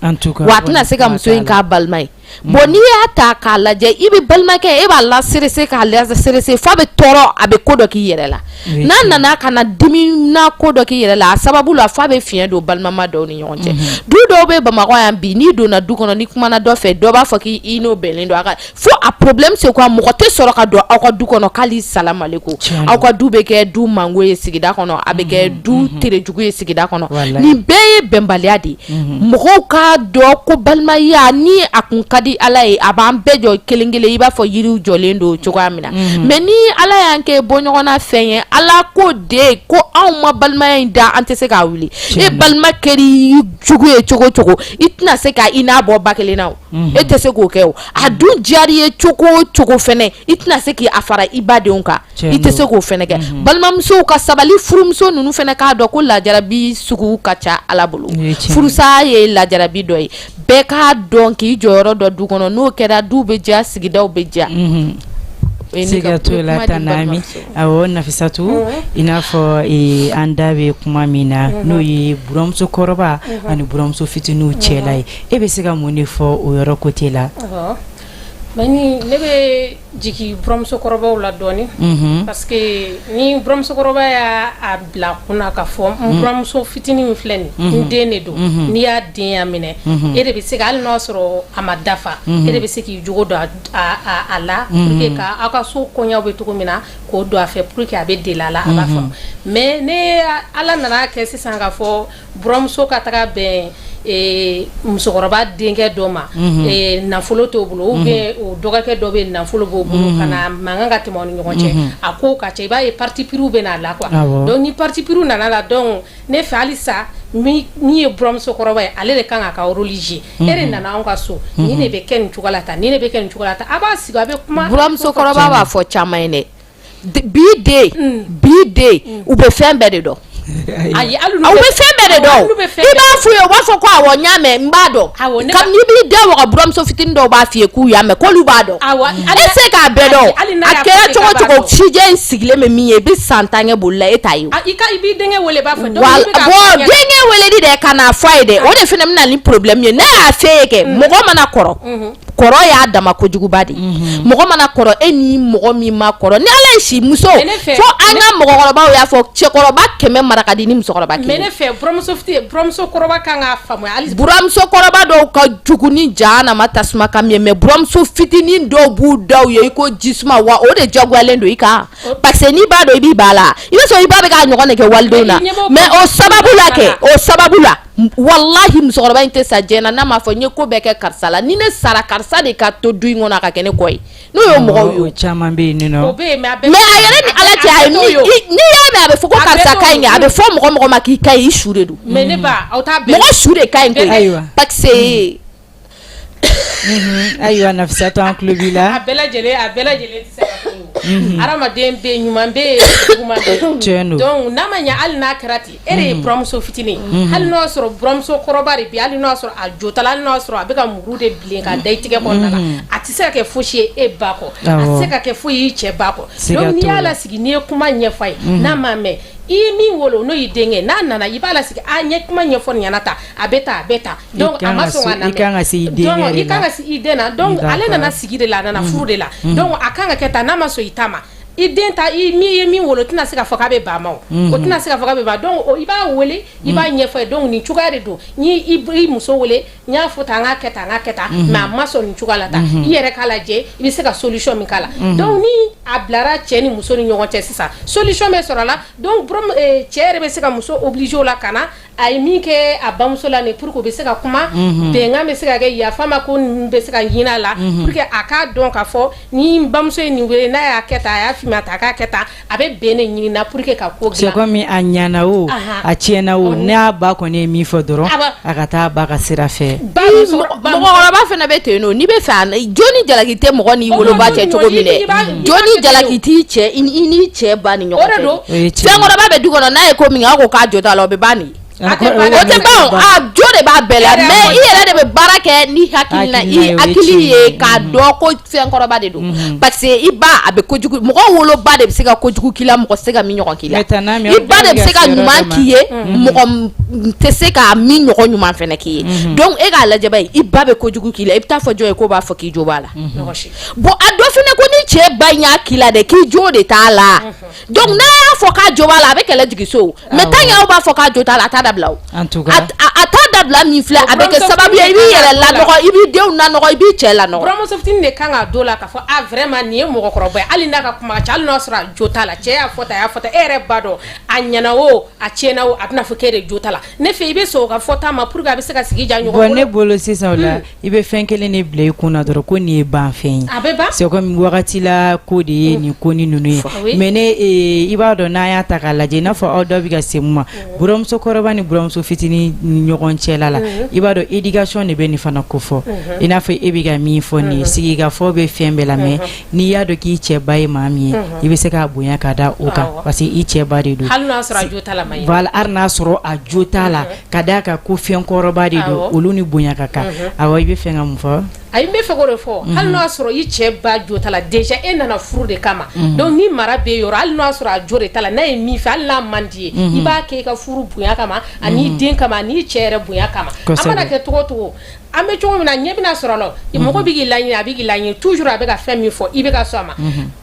B: wa a tɛna se ka muso in k'a balima ye mhm. bon n'i y'a ta k'a lajɛ i bɛ balimakɛ e b'a la serese k'a la serese f'a bɛ tɔɔrɔ a bɛ ko dɔ k'i yɛrɛ la n'a nana ka na dimi na ko dɔ k'i yɛrɛ la a sababu la f'a bɛ fiɲɛ don balimama dɔw ni ɲɔgɔn cɛ mhm. du dɔw bɛ bamakɔ yan bi n'i donna du kɔnɔ n'i kumana dɔ fɛ dɔ b'a fɔ k'i n'o bɛnnen don a ka fo a problème c'est quoi mɔgɔ tɛ sɔrɔ ka don aw ka du kɔnɔ k'ali salamu aleyikum aw ka du bɛ kɛ du mango ye sigida kɔnɔ a bɛ kɛ du terejugu ye sigida kɔnɔ nin bɛɛ ye bɛnbaliya de ye mɔgɔw k'a dɔn ko balimaya ni a kun ka di Ala ye a b'an bɛɛ jɔ kelen kelen i b'a fɔ yiriw jɔlen don cogoya min na mais ni Ala y'an kɛ bɔɲɔgɔnna fɛn ye Ala ko de ko anw ma balimaya in da an tɛ se k'a wuli e balima kɛr'i jugu ye cogo cogo i tɛna se ka i n'a bɔ ba kelen na o. e tɛ se k'o kɛ o a dun diyar'i ye cogo o cogo fɛnɛ i tɛna se k'a fara i badenw kan i tɛ se k'o fɛnɛ kɛ balimamusow ka sabali furumuso ninnu fɛnɛ k'a dɔn ko lajarabi sugu ka ca Ala bolo furusa ye lajarabi dɔ ye bɛɛ k'a dɔn k'i jɔyɔrɔ dɔn du kɔnɔ n'o kɛra du bɛ diya sigidaw bɛ
A: diya Nafisatu i n'a fɔ an da bɛ kuma min na n'o ye buramusokɔrɔba ani buramuso fitininw cɛ la ye E bɛ se ka mun de fɔ o yɔrɔ côté
C: la bani ne bɛ jigin buramusokɔrɔbaw la dɔɔnin parce que ni buramusokɔrɔba y'a bila kun na k'a fɔ buramuso fitinin min filɛ nin n den de don n'i y'a denya minɛ e de bɛ se ka hali n'a sɔrɔ a ma dafa e de bɛ se k'i jogo don a la pour que aw ka so koɲɛw bɛ cogo min na k'o don a fɛ pour que a bɛ deli a la a b'a faamu mais ni Ala nan'a kɛ sisan ka fɔ Buramuso ka taga bɛn musokɔrɔba denkɛ dɔ ma nafolo t'o bolo ou bien o dɔgɔkɛ dɔ bɛ nafolo b'o bolo ka na mankan ka tɛmɛ aw ni ɲɔgɔn cɛ a ko ka ca i b'a ye parti pris bɛ a la quoi donc ni parti pris nana la donc ne fɛ hali sa min ye buramusokɔrɔba ye ale de kan k'a ka rôle jouer e de nana anw ka so nin de bɛ kɛ nin cogo la tan nin bɛ kɛ nin cogo la tan a b'a sigi a bɛ kuma buramusokɔrɔba b'a fɔ
B: caman ye dɛ bi den u bɛ fɛn bɛɛ de dɔn ayi u bɛ fɛn bɛɛ de dɔn i b'a f'u ye u b'a fɔ ko awɔ n y'a mɛn n b'a dɔn kabini i b'i da waga buramuso fitinin dɔw b'a f'i ye k'u y'a mɛn k'olu b'a dɔn e se k'a bɛɛ dɔn a kɛra cogo cogo sijɛ in sigilen bɛ min ye i bɛ san tan kɛ boli la e t'a
C: ye bon denkɛ
B: weleli de ka n'a fɔ a ye dɛ o de fana bɛ na ni problème ye ne y'a f'e ye kɛ mɔgɔ mana kɔrɔ kɔrɔ y'a dama kojuguba de mhm. mɔgɔ mana kɔrɔ e ni mɔgɔ min ma kɔrɔ ni ala ye si muso fo an ka mɔgɔkɔrɔbaw y'a fɔ cɛkɔrɔba kɛmɛ mara ka di ni
C: musokɔrɔba kelen buramuso kɔrɔba
B: dɔw ka jugu ni jahanama tasuma kami ye mais buramuso fitinin dɔw b'u daw ye i ko ji suma wa o de jaguyalen don i kan parce que n'i b'a dɔn i b'i ba la i b'a sɔrɔ i ba bɛ k'a ɲɔgɔn de kɛ walidenw na mais o sababu la kɛ o sababu la walahi musokɔrɔba in tɛ sa diɲɛ na n'a m'a fɔ n ye ko bɛɛ kɛ karisa la ni ne sara karisa de ka to du in kɔnɔ a ka kɛ ne kɔ ye n'o ye mɔgɔw ye o caman bɛ yen nɔ
A: mais a yɛrɛ ni
C: ala
B: cɛ a ye min n'i y'a mɛn a bɛ fɔ ko karisa ka ɲi kɛ a bɛ fɔ mɔgɔ mɔgɔ ma k'i ka ɲi i su de don
C: mɔgɔ su de ka ɲi
B: koyi parce que
A: Ayiwa Nafisatu an tulo b'i la
C: a bɛɛ lajɛlen tɛ se ka fɔ hadamaden bɛ ɲuman bɛ yen juguman bɛ yen donc n'a ma ɲɛ hali n'a kɛra ten e de ye buramuso fitinin hali n'o y'a sɔrɔ buramuso kɔrɔba de bɛ yen hali n'o y'a sɔrɔ a jo t'a la hali n'o y'a sɔrɔ a bɛ ka muru de bilen ka da i tigɛ kɔnɔna la a tɛ se ka kɛ foyisi ye e ba kɔ a tɛ se ka kɛ foyi y'i cɛ ba kɔ n'i y'a lasigi n'i ye kuma ɲɛf'a ye n'a m'a mɛn i ye min wolo n'o y'i denkɛ n'a nana i b'a lasigi a ɲɛ kuma ɲɛfɔ nin ɲɛna tan a bɛ tan a bɛ tan Donc a ma sɔn k'a lamɛn, i ka kan ka se i denkɛ de la,
A: donc i ka kan ka se i den
C: na donc ale nana sigi de la a nana furu de la donc a ka kan ka kɛ tan n'a ma sɔn i ta ma i den ta i min ye min wolo o tɛna se k'a fɔ k'a bɛ ban ma o o tɛna se k'a fɔ k'a bɛ ban donc i b'a wele i b'a ɲɛfɔ a ye donc nin cogoya de don n ye i muso wele n y'a fɔ tan n k'a kɛ tan n k'a kɛ tan mais a ma sɔn nin cogoya la tan i yɛrɛ k'a lajɛ i bɛ se ka solution min k'a la donc ni a bilara cɛ ni muso ni ɲɔgɔn cɛ sisan solution bɛ sɔrɔ a la donc cɛ yɛrɛ bɛ se ka muso obliger o la ka na a ye min kɛ a bamuso la nin pour que u bɛ se ka kuma bɛnkan bɛ se ka kɛ yafa ma ko nin bɛ se ka ɲinin a la pour que a k'a dɔn k'a fɔ ni bamuso ye nin wele n'a y'a kɛ tan a y'a f'i ma tan a k'a kɛ tan a bɛ bɛn ne ɲini na pour que ka ko c'est comme a
A: ɲana o a tiɲɛna o n'a ba kɔni ye min fɔ dɔrɔn a ka taa a ba ka sira fɛ
B: mɔgɔkɔrɔba fana bɛ ten nɔ n'i bɛ fɛ jo ni jalaki tɛ mɔgɔ n'i woloba cɛ cogo min dɛ jo ni jalaki t'i cɛ i n'i cɛ ba ni ɲɔgɔn cɛ fɛnkɔrɔba bɛ du kɔnɔ n'a ye ko min kɛ a ko k'a jo t'a la o bɛ ban nin o tɛ ban a jo de b'a bɛɛ la mais i yɛrɛ de bɛ baara kɛ ni hakilina i hakili ye k'a dɔn fɛnkɔrɔba de don mhm. parce que i ba a bɛ kojugu mɔgɔ woloba de bɛ se ka kojugu k'i la mɔgɔ tɛ se ka min ɲɔgɔn k'i la i ba de bɛ se ka ɲuman k'i ye mhm. mɔgɔ tɛ se ka min ɲɔgɔn ɲuman fana k'i ye mhm. donc e k'a lajɛ bani i ba bɛ kojugu k'i la i bɛ taa fɔ jɔn ye k'o b'a fɔ k'i jo b'a la bon a dɔ fana ko ni cɛ ba in y'a k'i la dɛ k'i jo de t'a la donc n'a y'a fɔ k'a jo b'a la a bɛ kɛlɛ jigin so mais tant que aw b'a fɔ k'a jo t'a la a t'a dabila o a
A: t'a dabila
B: min filɛ a bɛ kɛ sababu ye i b'i yɛrɛ lanɔgɔ i b'i denw lanɔgɔ i b'i cɛ lanɔgɔ buramuso fitini de kan ka
C: don la k'a fɔ a vraiment nin ye mɔgɔkɔrɔba ye hali n'a ka kuma ka ca hali n'a sɔrɔ a jo t'a la cɛ y'a fɔ tan a y'a fɔ tan e yɛrɛ b'a dɔn a ɲɛna o a tiɲɛna o a bɛna fɔ k'e de jo t'a la ne fɛ i bɛ sɔn o ka fɔta ma pour que a bɛ se ka sigi diya ɲɔgɔn bolo bon ne bolo sisan o la
A: I bɛ fɛn kelen de bila i kun na dɔrɔn ko nin ye banfɛn ye c'est
C: wagati
A: la ko de ye nin ko ni ninnu ye mais ne i b'a dɔn n'a y'a ta k'a lajɛ n'a fɔ aw da bɛ ka se mun ma buramusokɔrɔba ni buramuso fitinin ni ɲɔgɔn cɛ la i b'a dɔn éducation de bɛ nin fana ko fɔ i n'a fɔ e bɛ ka min fɔ nin sigikafɔ bɛ fɛn bɛɛ la mais n'i y'a dɔn k'i cɛ ba ye maa min ye i bɛ se k'a bonya ka da o kan parce que i cɛ ba de don
C: hali n'a sɔrɔ
A: a jo t'a la ka d'a kan ko fɛn kɔrɔba de don olu ni bonya ka kan a i b'a fɛ ka mun fɔ n b'a fɛ k'o de
C: fɔ hali n'i y'a sɔrɔ i cɛ ba jo t'a la déjà e nana furu de kama mais ni mara b'i yɔrɔ hali n'a sɔrɔ a jo de t'a la n'a ye min fɛ hali n'a man d'i ye i b'a kɛ i ka furu bonya kama ani den kama n'i cɛ yɛrɛ bonya kama a mana kɛ cogo o cogo an bɛ cogo min na ɲɛ bɛna sɔrɔ a la i mɔgɔ bɛ' la a bɛ' la toujours a bɛ ka fɛn min fɔ i bɛ sɔn a ma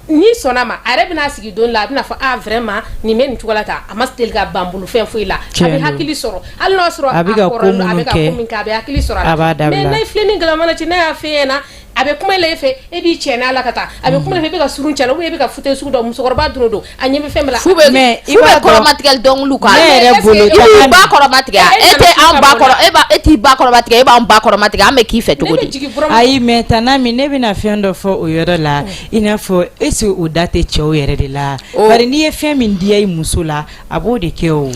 C: n'i sɔnna a ma a yɛrɛ bɛna a sigi don la a bɛna fɔ a vraiment nin bɛ nin cogo la tan a ma deli ka ban n bolo fɛn foyi la a bɛ hakili sɔrɔ hali n'a sɔrɔ a bɛ ka ko minnu kɛ a bɛ hakili sɔrɔ a b'a dabila mais n'a ye filen ni galama lajɛ n'a y'a f'e ɲɛna a bɛ kuma la e fɛ e b'i cɛ n'a la ka taa a bɛ kuma la e bɛ ka surun cɛ la ou bien e bɛ ka fauteuil sugu dɔ musokɔrɔba dɔrɔn don a ɲɛ bɛ fɛn bɛɛ la f'u bɛ mais i b'a dɔn f'u bɛ kɔrɔmatigɛli
B: dɔnkiliw k'a la ne yɛrɛ bolo i b'i ba kɔrɔmatigɛ a e tɛ an ba kɔrɔ e b'a e t'i ba kɔrɔmatigɛ e b'an ba kɔrɔmatigɛ an bɛ k'i fɛ cogo di ayi mais tana
A: min ne bɛna fɛn dɔ fɔ o yɔrɔ la I n'a fɔ est-ce que o da tɛ cɛw yɛrɛ de la bari n'i ye fɛn min diya i muso la a b'o de kɛ o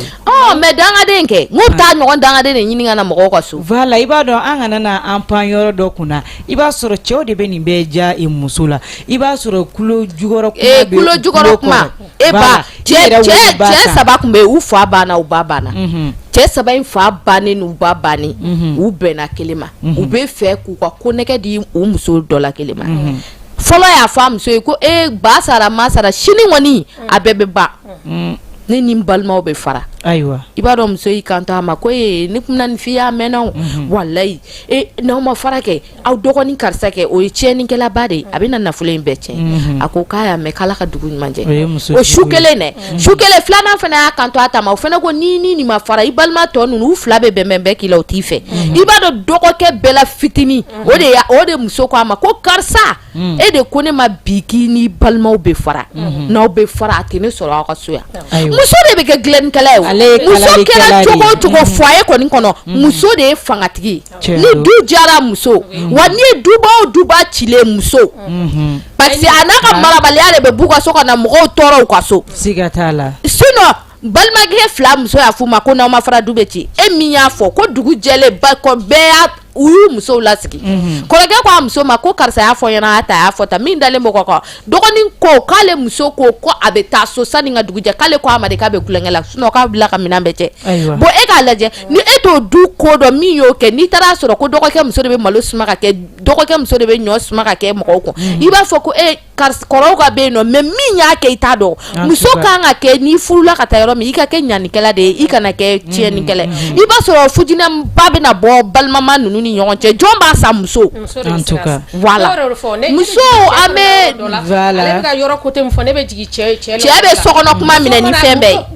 A: mais
B: dangaden kɛ bɛ taa ɲɔgɔn dangaden de ɲini ka na mɔgɔ ka so voilà i b'a dɔn an kana
A: na an pan yɔrɔ dɔ kun na i b'a sɔrɔ cɛw de bɛ nin bɛɛ diya i muso la i b'a
B: sɔrɔ kulo jukɔrɔ kuma kulo jukɔrɔ kuma e cɛ saba tun bɛ u fa banna u ba banna cɛ saba in fa bannen u ba bannen u bɛnna kelen ma u b'a fɛ k'u ka konnɛgɛ di u muso dɔ la kelen ma fɔlɔ y'a fɔ a muso ye ko e ba sara ma sara sini kɔni a bɛɛ bɛ ban ne ni n balimaw bɛ fara ayiwa i b'a dɔn
A: muso y'i
B: kanto a ma ko e ne tun na nin f'i ye a mɛnna walayi e n'aw ma fara kɛ aw dɔgɔnin karisa kɛ o ye cɛnnikɛlaba de ye a bɛ na nafolo in bɛɛ cɛn a ko k'a y'a mɛn k'Ala ka dugu ɲuman jɛ o su kelen dɛ su kelen filanan fana y'a kanto a ta ma o fana ko ni ni nin ma fara i balima tɔ ninnu fila bɛ bɛnbɛn bɛɛ k'i la o t'i fɛ i b'a dɔn dɔgɔkɛ bɛɛ la fitinin o de o de muso ko a ma ko karisa e de ko ne ma bi k'i ni balimaw bɛ fara n'aw bɛ fara a tɛ ne sɔrɔ aw ka so yan muso de bɛ kɛ dilannikɛla ye muso kɛra cogo o cogo foyer kɔni kɔnɔ muso de ye fangatigi ni du jara muso wa n'i ye duba o duba cilen muso parce que a n'a ka marabaliya de bɛ b'u ka so ka na mɔgɔw tɔɔrɔ u ka so siga t'a la balimakɛ fila muso y'a f'u ma ko n'aw ma fara du bɛ ci e min y'a fɔ ko dugu jɛlen ba kɔ bɛɛ y'a u y'u musow lasigi mhm. kɔrɔkɛ ko a muso ma ko karisa y'a fɔ ɲɛna a ta y'a fɔ ta min dalen bɔ kɔ kɔ dɔgɔnin ko k'ale muso ko ko a bɛ taa so sani ka dugu jɛ k'ale ko a ma de k'a bɛ tulonkɛ la sinon k'a bila ka minɛn bɛɛ cɛ bon e k'a lajɛ ni e t'o du ko dɔn min y'o kɛ n'i taara a sɔrɔ ko dɔgɔkɛ muso de bɛ malo suma ka kɛ dɔgɔkɛ muso de bɛ ɲɔ suma ka kɛ mɔgɔw kun mhm. i b'a fɔ ko e karisa kɔrɔw ka bɛ yen nɔ mais min y'a kɛ i t'a dɔn muso kan ka kɛ n'i furula ka taa yɔrɔ min i ka kɛ ɲanikɛla de ye i kana kɛ tiɲɛnikɛla mm, mm, mm. i b'a sɔrɔ fitinɛba bɛna bɔ balimama ninnu ni ɲɔgɔn cɛ jɔn b'a sa muso voilà muso
C: an bɛ cɛ bɛ sokɔnɔ kuma
B: minɛ ni fɛn bɛɛ ye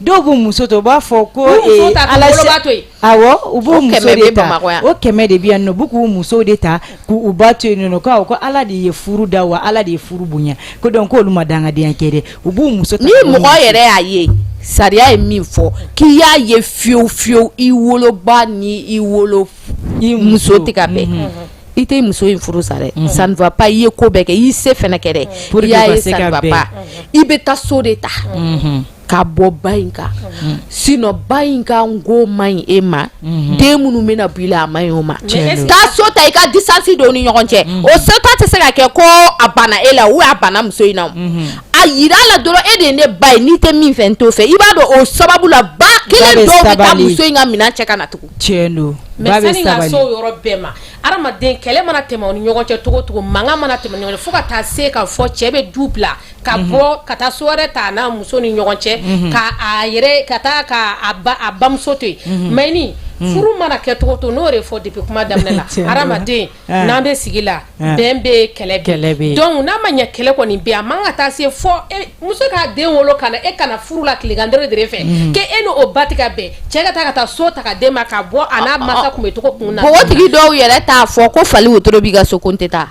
A: Dɔw b'u muso to u b'a fɔ ko u b'u muso de ta u k'u muso de ta k'u ba to yen ko ala de ye furu da wa ala de ye furu bonya ko donc ko olu ma dangadenya kɛ u b'u muso ta ni mɔgɔ yɛrɛ y'a
B: ye sariya ye min fɔ k'i y'a ye fiyewu fiyewu i woloba ni i wolo i muso tɛ ka bɛn i tɛ muso in furu sa dɛ ça ne va pas i ye ko bɛɛ kɛ i y'i se kɛ i bɛ taa so de ta ka bɔ ba in kan sinon ba in ka n ko man ɲi e ma mhm. den minnu bɛna bɔ i la a man ɲi o ma taa so ta i ka distance don o ni ɲɔgɔn cɛ mhm. o so ta tɛ se ka kɛ ko a banna e la ou a banna muso in na mhm. a yira a la dɔrɔn e de ye ne ba ye n'i tɛ min fɛ n t'o fɛ i b'a dɔn o sababu la ba kelen dɔw bɛ taa muso in ka minɛn cɛ ka na tugun tiɲɛ don
A: mais sani ka se
C: o yɔrɔ bɛɛ ma adamaden kɛlɛ mana tɛmɛ o ni ɲɔgɔn cɛ cogo o cogo mankan mana tɛmɛ o ni ɲɔgɔn cɛ fo ka taa se ka fɔ cɛ bɛ du bila ka bɔ ka taa so wɛrɛ ta n'a muso ni ɲɔgɔn cɛ ka ka ka a bamuso to yen mais ni furu mana kɛ cogo o cogo n y'o de fɔ depuis kuma daminɛ la hadamaden n'an bɛ sigi la bɛn bɛ kɛlɛ kɛlɛ bɛ donc n'a ma ɲɛ kɛlɛ kɔni bɛ a man ka taa se fɔ e, muso k'a den wolo kana e kana furu la tilegan dɔ de fɛ k'e n'o ba tɛ ka bɛn cɛ ka taa ka taa so ta ka den ma ka bɔ a n'a mansa tun bɛ cogo kun na npogotigi dɔw yɛrɛ t'a
B: fɔ ko fali wotoro b'i ka so ko n tɛ taa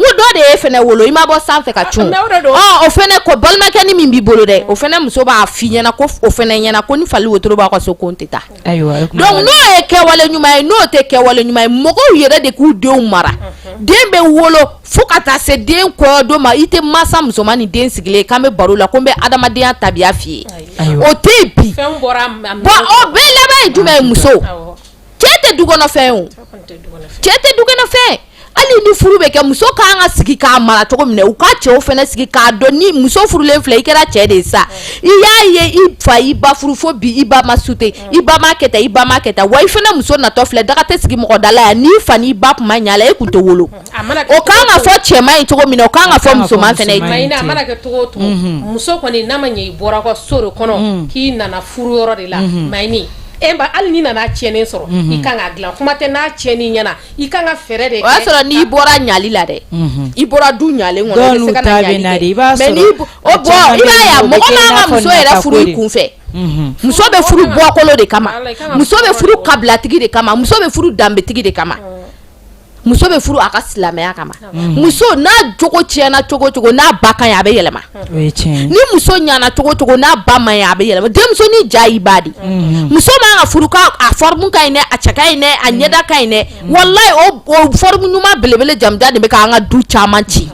B: n ko dɔ de y'e fɛnɛ wolo i ma bɔ sanfɛ ka cun ah, ah, o fɛnɛ ko balimakɛnin min b'i bolo dɛ o fɛnɛ muso b'a f'i ɲɛna ko o fɛnɛ ɲɛna ko ni fali wotoro b'a ka so ko n tɛ taa donc n'o ye kɛwale ɲuman ye n'o tɛ kɛwale ɲuman ye mɔgɔw yɛrɛ de k'u denw mara mhm. den bɛ wolo fo ka taa se den kɔɲɔ don ma i tɛ mansa musoman ni den sigilen k'an bɛ baro la ko n bɛ adamadenya tabiya f'i ye o tɛ yen bi bon o bɛɛ laban ye jumɛn ye muso cɛ tɛ du kɔnɔ fɛn o cɛ tɛ du kɔnɔ fɛn hali ni furu bɛ kɛ muso kan ka sigi k'a mara cogo min na u ka cɛw fana sigi k'a dɔn ni muso furulen filɛ i kɛra cɛ de ye sa i y'a ye i fa i ba furu fo bi i ba ma sute i ba ma kɛ tan i ba ma kɛ tan wa i fana muso natɔ filɛ daga tɛ sigi mɔgɔ da la yan n'i fa n'i ba tun ma ɲa la e tun tɛ wolo o kan ka fɔ cɛman ye cogo min na o kan ka fɔ musoman fana ye ten a mana kɛ cogo o cogo
C: muso kɔni n'a ma ɲɛ i bɔra ka so de kɔnɔ k'i nana furu yɔrɔ de la mayini E ba hali n'i nana tiɲɛnen sɔrɔ i kan ka dilan kuma tɛ n'a tiɲɛni ɲɛna i kan ka fɛɛrɛ de kɛ o y'a sɔrɔ n'i bɔra ɲali la dɛ i bɔra du ɲalen kɔnɔ i bɛ se ka na ɲali kɛ mais i b'a ye a mɔgɔ man ka muso yɛrɛ furu i kun fɛ muso bɛ furu bɔkolo de kama muso bɛ furu kabilatigi de kama muso bɛ furu danbetigi de kama muso bɛ furu a ka silamɛya kama muso n'a jogo tiɲɛna cogo o cogo n'a ba ka ɲi a bɛ yɛlɛma ni muso ɲana cogo o cogo n'a ba man ɲi a bɛ yɛlɛma denmuso ni ja i ba di muso man ka furu k'a forme ka ɲi dɛ a cɛ ka ɲi dɛ a ɲɛda ka ɲi dɛ wallahi o forme ɲuman belebele jamanjan de bɛ k'an ka du caman ci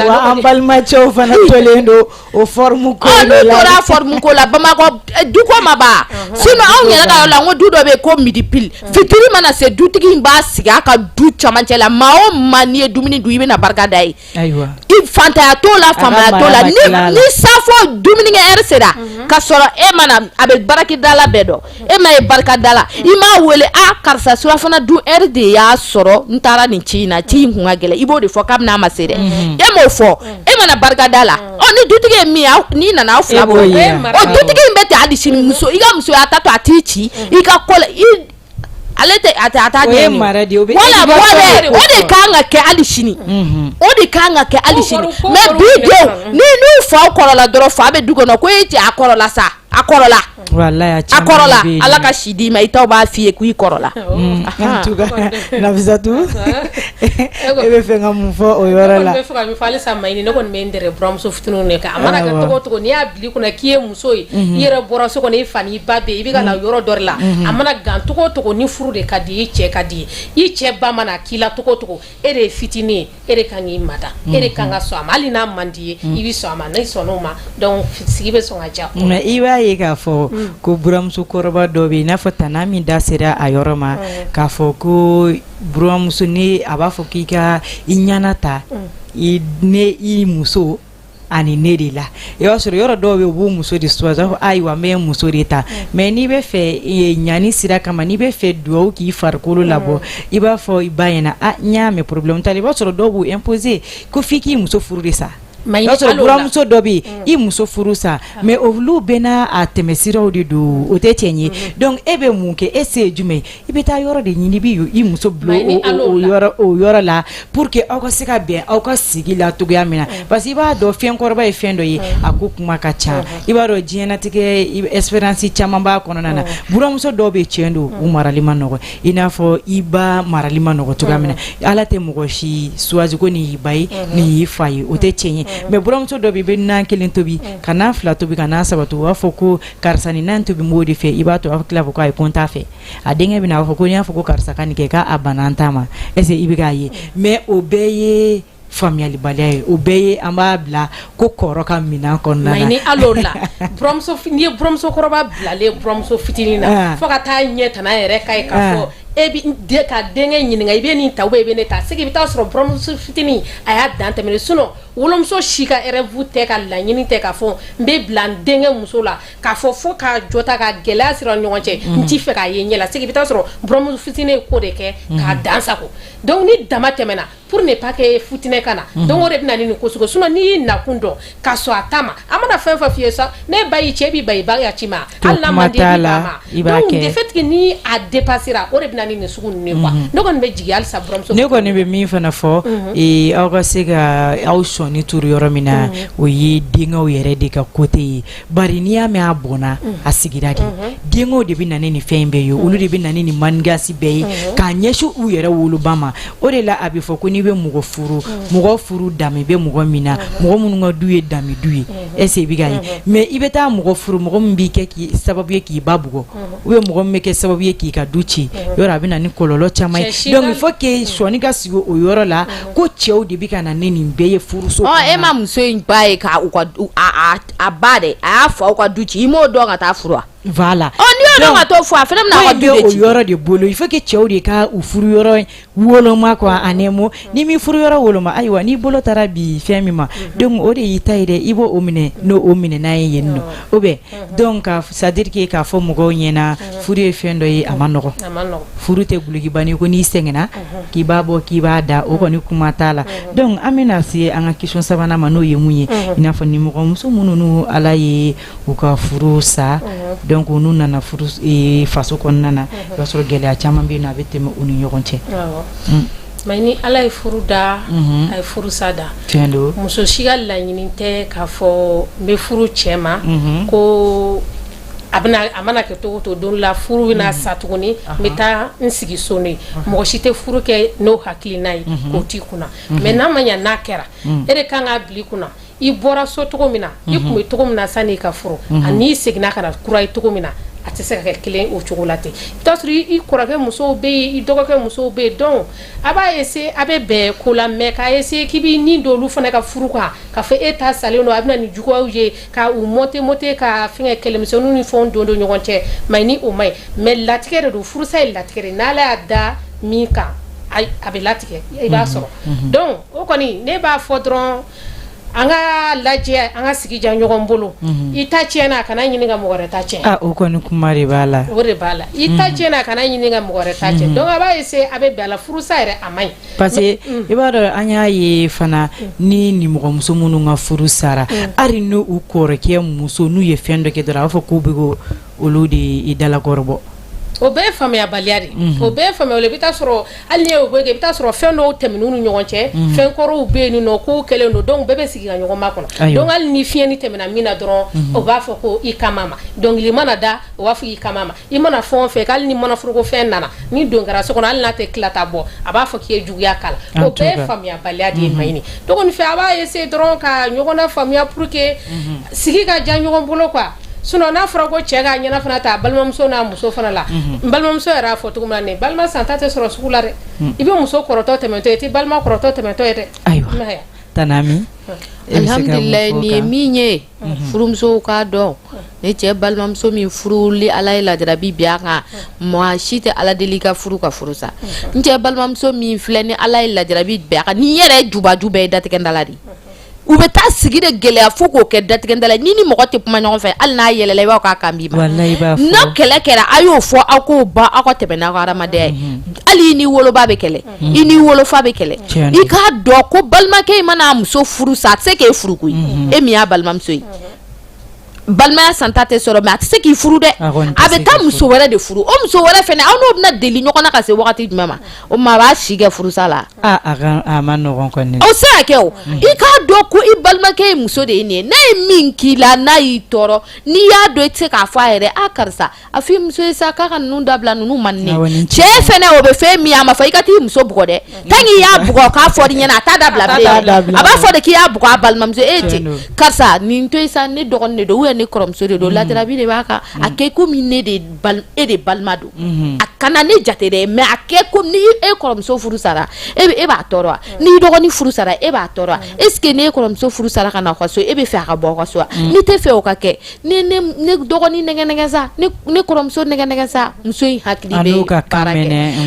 A: wa an balimacɛw fana tolen don O forme ko la n'u tora forme ko
B: la bamakɔ du ko ma ban sinon anw yɛrɛ ka yɔrɔ la ko du dɔ bɛ ko midi pile fitiri mana se dutigi in b'a sigi a ka du cɛmancɛ la maa o maa n'i ye dumuni dun i bɛna barika da ye i faantanya t'o la faamaya t'o la ni sa fɔ dumunikɛ heure sera ka sɔrɔ e ma na a bɛ barikadala bɛɛ dɔn e ma ye barika da la i m'a weele a karisa surafana dun heure de y'a sɔrɔ n taara nin ci in na ci in kun ka gɛlɛn i b'o de fɔ kabini a ma se dɛ mhm. e m'o fɔ mhm. e ma na barika da la mhm. ɔ ni dutigi ye min ye n'i nana aw fila e b'o ye ɔ dutigi in bɛ ten hali sini muso i ka musoya ta to a t'i ci i ka ko la i ale tɛ a tɛ a t'a ɲɛɲini voilà voilà o de kan ka kɛ hali sini o de kan ka kɛ hali sini mais bi denw ni n'u faw kɔrɔla dɔrɔn fa bɛ du kɔnɔ ko e cɛ a kɔrɔla sa a kɔrɔla
A: Ala
B: ka si di ma i b'a f fɔ ye ko i kɔrɔla
A: natu e bɛ fɛ ka mun fɔ o yɔrɔ la
C: nemuso fitinin n'i y'a kun k'i ye muso ye i yɛrɛ bɔra so i fa i ba i bɛ ka yɔrɔ dɔ la a mana gancogo ni furu de ka di i cɛ ka di i cɛ ba k'i la tɔgɔcogo e de ye fitinin ye e de kan k'i mada mm -hmm. e de kan ka sɔn a ma hali n'a man di ye mm -hmm. i bɛ sɔn a ma n'i sɔnn'o ma donc sigi bɛ sɔn ka diya mais i b'a ye k'a
A: fɔ mm. ko buramuso kɔrɔba dɔ bɛ yen i n'a fɔ tana min da sera a yɔrɔ ma mm. k'a fɔ ko buramuso ni a b'a fɔ k'i ka i ɲana ta mm. i ne i muso ani ne de la i b'a sɔrɔ yɔrɔ dɔw bɛ u b'u muso de choisi fɔ ayiwa n bɛ n muso de ta mais n'i bɛ fɛ ɲani sira kama n'i bɛ fɛ dugawu k'i farikolo labɔ i b'a fɔ i ba ɲɛna n y'a mɛ problème t'a la i b'a sɔrɔ dɔw b'u imposer ko f'i k'i muso furu sa y'a sɔrɔ buramuso dɔ bɛ i muso furu sa mais olu bɛ n'a tɛmɛsiraw de don o tɛ tiɲɛ ye donc e bɛ mun kɛ e se ye jumɛn ye I bɛ taa yɔrɔ de ɲini i b'i muso bila o yɔrɔ la pour que aw ka se ka bɛn aw ka sigi la cogoya min na parce que i b'a dɔn fɛnkɔrɔba ye fɛn dɔ ye a ko kuma ka ca i b'a dɔn diɲɛnatigɛ expérience caman b'a kɔnɔna na buramuso dɔw bɛ cɛn don u marali man nɔgɔn i n'a fɔ i ba marali man nɔgɔn cogoya min na ala tɛ mɔgɔ si choisi ko nin y'i ba ye nin y'i fa ye o tɛ tiɲɛn ye mais buramuso dɔ bɛ i bɛ nan kelen tobi ka nan fila tobi ka nan saba u b'a fɔ ko karisa nin nan tobi n b'o de fɛ i b'a to a tila ko ayi ko n t'a fɛ a denkɛ bɛ na a fɔ ko n y'a fɔ ko karisa ka nin kɛ k'a banna n ta ma est-ce i bɛ k'a ye mais o bɛɛ ye faamuyalibaliya ye o bɛɛ ye an b'a bila ko kɔrɔ ka minɛn kɔnɔna na
C: ni buramuso n'i ye buramusokɔrɔba bilalen buramuso fitinin na ah. fo ka taa ɲɛ t yɛrɛ ka ye ka ah. fɔ e ka denkɛ ɲininka i bɛ nin ta wa i bɛ ne ta c'est que i bɛ taa sɔrɔ buramuso fitinin a y'a dan tɛmɛ sinon Wolomuso si ka rêve tɛ ka laɲini tɛ ka fɔ n bɛ bila n denkɛ muso la ka fɔ fo ka jɔ ta ka gɛlɛya siri an ni ɲɔgɔn cɛ n t'a fɛ k'a ye n ɲɛ la c'est que i bɛ taa sɔrɔ buramuso fitinin ye ko de kɛ k'a dan sago donc ni dama tɛmɛna pour ne pas que fitinɛ ka na donc o de bɛ na ni nin ko sugu ye sinon n'i y'i nakun dɔn ka sɔn a ta ma a mana fɛn o fɛn f'i ye sa n'e ba y'i ci i b'i ban i ba ya ci ma hali n'a man di i b'i ban a ma, kuma t'a la, i b'a kɛ, donc le fait que ni a depassera o de bɛ na ni nin sugu ninnu ye quoi ne kɔni bɛ jigin halisa buramuso ne kɔni bɛ min fana
A: fɔ ee, aw ka se ka aw sɔnin turu yɔrɔ min na o ye denkɛw yɛrɛ de ka côté ye bari n'i y'a mɛn a bɔnna a sigira de denkɛw de bɛ na ni nin fɛn in bɛɛ ye olu de bɛ na ni nin manigance bɛɛ ye k'a ɲɛsin u yɛrɛ woloba ma o de la a bɛ fɔ ko n'i bɛ mɔgɔ furu mɔgɔ furu danbe bɛ mɔgɔ min na mɔgɔ minnu ka du ye danbe du ye est-ce i bɛ k'a ye mais i bɛ taa mɔgɔ furu mɔgɔ min b'i kɛ sababu ye k'i ba bugɔ ou bien mɔgɔ min bɛ kɛ sababu ye k'i ka du ci yɔrɔ a bɛ na ni kɔlɔlɔ caman ye donc il faut que sɔnin ka sigi o yɔrɔ la ko cɛw de bɛ ka na ni nin bɛɛ ye furu so e ma muso
B: in ba ye k' a ba de a y'a fɔ aw ka du ci i m'o dɔn ka taa furu la
A: to
B: fɔ a yɔrɔ de bolo il
A: faut que cɛw de ka furu yɔrɔ Woloma quoi a nɛmu ni min furu yɔrɔ woloma ayiwa n'i bolo taara bi fɛn min ma donc o de y'i ta ye dɛ i b'o minɛ n'o minɛnan ye nɔ o bɛ donc c'est à dire que k'a fɔ mɔgɔw ɲɛna furu ye fɛn dɔ ye a man nɔgɔn furu tɛ dulokibanin ye ko n'i sɛgɛnna k'i b'a bɔ k'i b'a da o kɔni kuma t'a la donc an bɛna se an ka question sabanan ma n'o ye mun ye i n'a fɔ nimɔgɔmuso minnu n'u Ala ye u ka furu sa donc o n'u nana faso kɔnɔna na o b'a sɔrɔ gɛlɛya caman bɛ na a bɛ tɛmɛ u ni ɲɔgɔn cɛ ma
C: ɲi ala ye furu da a ye furusa da donc muso si
A: ka laɲini
C: tɛ k'a fɔ n bɛ furu cɛ ma ko a a mana kɛ to to don la furu bɛna sa tuguni n bɛ taa n sigi so ye mɔgɔ si tɛ furu kɛ n'o hakilina ye o t'i kunna mais n'a ma ɲɛ n'a kɛra e de kan k'a bila i kunna i bɔra so cogo min na i tun bɛ cogo min na sani i ka furu ani i seginna ka na kura ye cogo min na a tɛ se ka kɛ kelen o cogo la ten i b'a sɔrɔ i kɔrɔkɛ musow bɛ yen i dɔgɔkɛ musow bɛ yen donc a b'a essayer a bɛ bɛn ko la mais k'a essayer k'i bɛ nin don olu fana ka furu kan k'a fɔ e ta salen don a bɛ na ni juguyaw ye ka u monter monter ka fɛn kɛlɛmisɛnnin fɛn don don ɲɔgɔn cɛ ma ɲi o ma ɲi mais latigɛ de don furusa ye latigɛɛrɛ n' y'a da min kan a bɛ latigɛ i b'a sɔrɔ donc o kɔni ne b'a fɔ dɔrɔn An ka lajɛ an ka sigi diya ɲɔgɔn bolo i ta cɛnna kana ɲini ka mɔgɔ wɛrɛ ta cɛn o kɔni kuma de
A: b'a la o de b'a la i ta
C: cɛnna kana ɲini ka mɔgɔ wɛrɛ ta cɛn donc a b'a essayer a bɛ bɔ a la furusa yɛrɛ a ma ɲi parce que
A: i b'a dɔn an y'a ye fana ni nimɔgɔmuso minnu ka furu sara hali ni u kɔrɔkɛ muso n'u ye fɛn dɔ kɛ dɔrɔn a b'a fɔ k'u bɛ k'olu de dalakɔrɔbɔ O
C: bɛɛ ye faamuyabaliya de o bɛɛ faamuya bɛ sɔrɔ hali i bɛ taa sɔrɔ fɛn dɔw tɛmɛna u ni ɲɔgɔn cɛ fɛn kɔrɔw bɛ yen nɔ ko kɛlen don donc bɛɛ bɛ sigi ka ɲɔgɔn makɔnɔ donc hali ni fiɲɛnin tɛmɛna min na dɔrɔn o b'a fɔ ko i kama dɔnkili mana da o b'a fɔ i kama i mana fɛn o fɛn hali ni mana foroko fiɲɛ nana ni don kɛra so kɔnɔ hali n'a tɛ kita bɔ a b'a fɔ k'i ye juguya k'a la o bɛɛ ye faamuyabaliya de ye ma ɲi donc ne fɛ a b'a essayer dɔrɔn ka ɲɔgɔn faamuya pour que sigi ka diya ɲɔgɔn bolo quoi Sinon n'a fɔra ko cɛ k'a ɲɛna fana ta a balimamuso n'a muso fana la, unhun, n balimamuso yɛrɛ y'a fɔ cogo min na nin ye balima santa tɛ sɔrɔ sugu la dɛ, un, i bɛ muso kɔrɔtɔ tɛmɛtɔ ye i tɛ balima kɔrɔtɔ tɛmɛtɔ ye dɛ, ayiwa, i m'a ye wa, tani
A: Ami, e bɛ se ka mun fɔ o kan?
B: Alihamidulilayi nin ye min ye furumusow k'a dɔn ni cɛ balimamuso min furu ni Ala ye lajarabi bin a kan maa si tɛ Ala deli i ka furu ka furu sa n cɛ balimamuso min filɛ ni Ala ye lajarabi bin a kan n'i yɛrɛ ye jubaju bɛɛ ye datigɛndala de ye u bɛ taa sigi de gɛlɛya fo k'o kɛ datigɛndala i ni nimɔgɔ tɛ kuma ɲɔgɔn fɛ hali n'a yɛlɛla i b'a fɔ k'a kan b'i ma n'a kɛlɛ kɛra a y'o fɔ aw k'o ban aw ka tɛmɛ n'aw ka hadamadenya ye mhm. hali i ni woloba bɛ kɛlɛ mhm. i ni wolofa bɛ kɛlɛ i k'a dɔn ko balimakɛ in mana muso furu sa a tɛ se k'e furu koyi mhm. e min y'a balimamuso ye balimaya santa tɛ sɔrɔ mais a tɛ se k'i furu dɛ a bɛ taa muso wɛrɛ de furu o muso wɛrɛ fɛnɛ aw n'o bɛna deli ɲɔgɔn na ka se wagati jumɛn ma o maa b'a si kɛ furusa la a
A: man nɔgɔn kɔni o se ka kɛ o
B: mm. i k'a dɔn ko i balimakɛ ye muso de ye nin ye n'a ye min k'i la n'a y'i tɔɔrɔ n'i y'a dɔn i tɛ se k'a fɔ a yɛrɛ a karisa a fɔ i muso ye sa k'a ka ninnu dabila ninnu man di ne Awɔ, ye nin cɛ cɛ fɛnɛ o bɛ fɛn min ye a ma fɔ i ka t'i muso bugɔ dɛ tant que i y'a bugɔ k'a fɔ i ɲɛna a t'a dabila t'a bilen dabila. a b'a fɔ de k'i y'a bugɔ a balimamuso e Tiɲɛ cɛ don. karisa nin to yen sa ne dɔgɔnin de don ou bien ne kɔrɔmuso de don lajarabi de b'a kan a kɛ komi ne de bal- e de balima don a kana ne jate dɛ mais a kɛ komi ni e kɔrɔmuso furu sara e bɛ- e b'a tɔɔrɔ wa ni i dɔgɔnin furu sara e b'a tɔɔrɔ wa est ce que ne kɔrɔmuso furu sara ka na aw ka so e b'a fɛ a ka bɔ aw ka so wa n'i t'a fɛ o ka kɛ ne dɔgɔnin nɛgɛ nɛgɛ sa ne kɔrɔmuso nɛgɛ nɛgɛ sa muso in hakili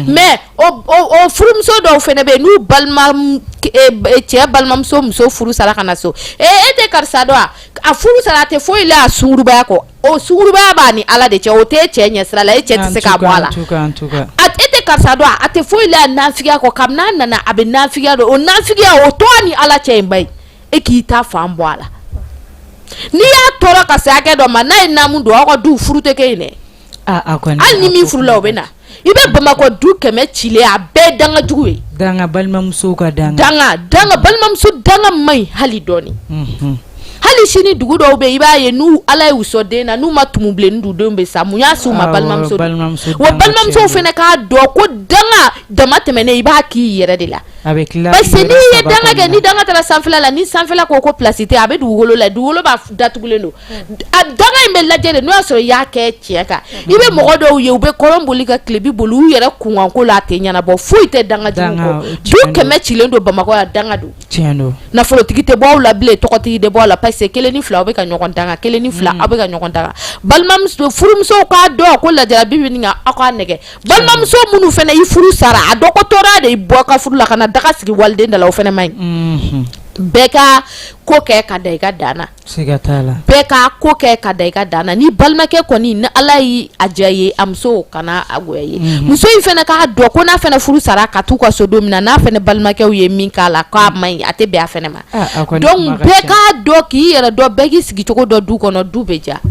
B: mais o furumuso dɔw fana bɛ n'u balima cɛ balimamuso muso furu sara ka na so e e tɛ karisa dɔn a a furu sara a tɛ foyi la a sungurubaya kɔ o sungurubaya b'a ni ala de cɛ o tɛ cɛ ɲɛ sira la e cɛ tɛ se ka bɔ a la e tɛ karisa dɔn a tɛ foyi la a nafigiya kɔ kabini n'a nana a bɛ nafigiya don o nafigiya o to a ni ala cɛ i b'a ye e k'i ta fan bɔ a la n'i y'a tɔɔrɔ ka se hakɛ dɔ ma n'a ye namu don aw ka du furu tɛ kɛ yen dɛ hali ni min furula o bɛ na i bɛ bamakɔ du kɛmɛ cilen a bɛɛ danga jugu ye danga balimamuso
A: ka dan danga danga
B: balimamuso danga man ɲi hali dɔɔni mhm. hali sini dugu dɔw bɛ i b'a ye n'u ala ye u sɔn den na n'u ma tumu bilenni du denw bɛ sa mun y'a se u ma balimamuso wa balimamusow fana k'a dɔn ko danga dama tɛmɛnen i b'a k'i yɛrɛ de la A bɛ tila parce que n'i ye danga kɛ ni danga taara sanfɛla la ni sanfɛla ko ko place tɛ yen a bɛ dugukolo lajɛ dugukolo b'a fɔ datugulen don a danga in bɛ lajɛ de n'o y'a sɔrɔ i y'a kɛ tiɲɛ kan i bɛ mɔgɔ dɔw ye u bɛ kɔrɔn boli ka tilebin boli u yɛrɛ kunkanko la a tɛ ɲɛnabɔ foyi tɛ danga jugu kɔ danga o tiɲɛ don du 100 cilen don Bamakɔ yan danga don tiɲɛ don nafolotigi tɛ bɔ aw la bilen tɔgɔtigi tɛ bɔ aw la parce que 1 ni 2 aw bɛ ka ɲɔgɔn danga 1 ni 2 aw bɛ ka ɲɔgɔn danga balimamuso furumusow k'a dɔn ko lajarabi bɛ nin kan aw k'a nɛgɛ balimamuso minnu fana i furu sara a dɔn ko tɔɔrɔya de y'i bɔ ka furu la ka na daga sigi waliden da la o fana man ɲi bɛɛ ka ko kɛ ka da i ka dan na bɛɛ ka ko kɛ ka da i ka dan na ni balimakɛ kɔni ni ala y'a diya ye a muso kana a goya ye muso in fana k'a dɔn ko n'a fana furu sara ka taa u ka so don min na n'a fana balimakɛw ye min k'a la k'a man ɲi a tɛ bɛn a fana ma donc bɛɛ k'a dɔn k'i yɛrɛ dɔn bɛɛ k'i sigicogo dɔn du kɔnɔ du bɛ diya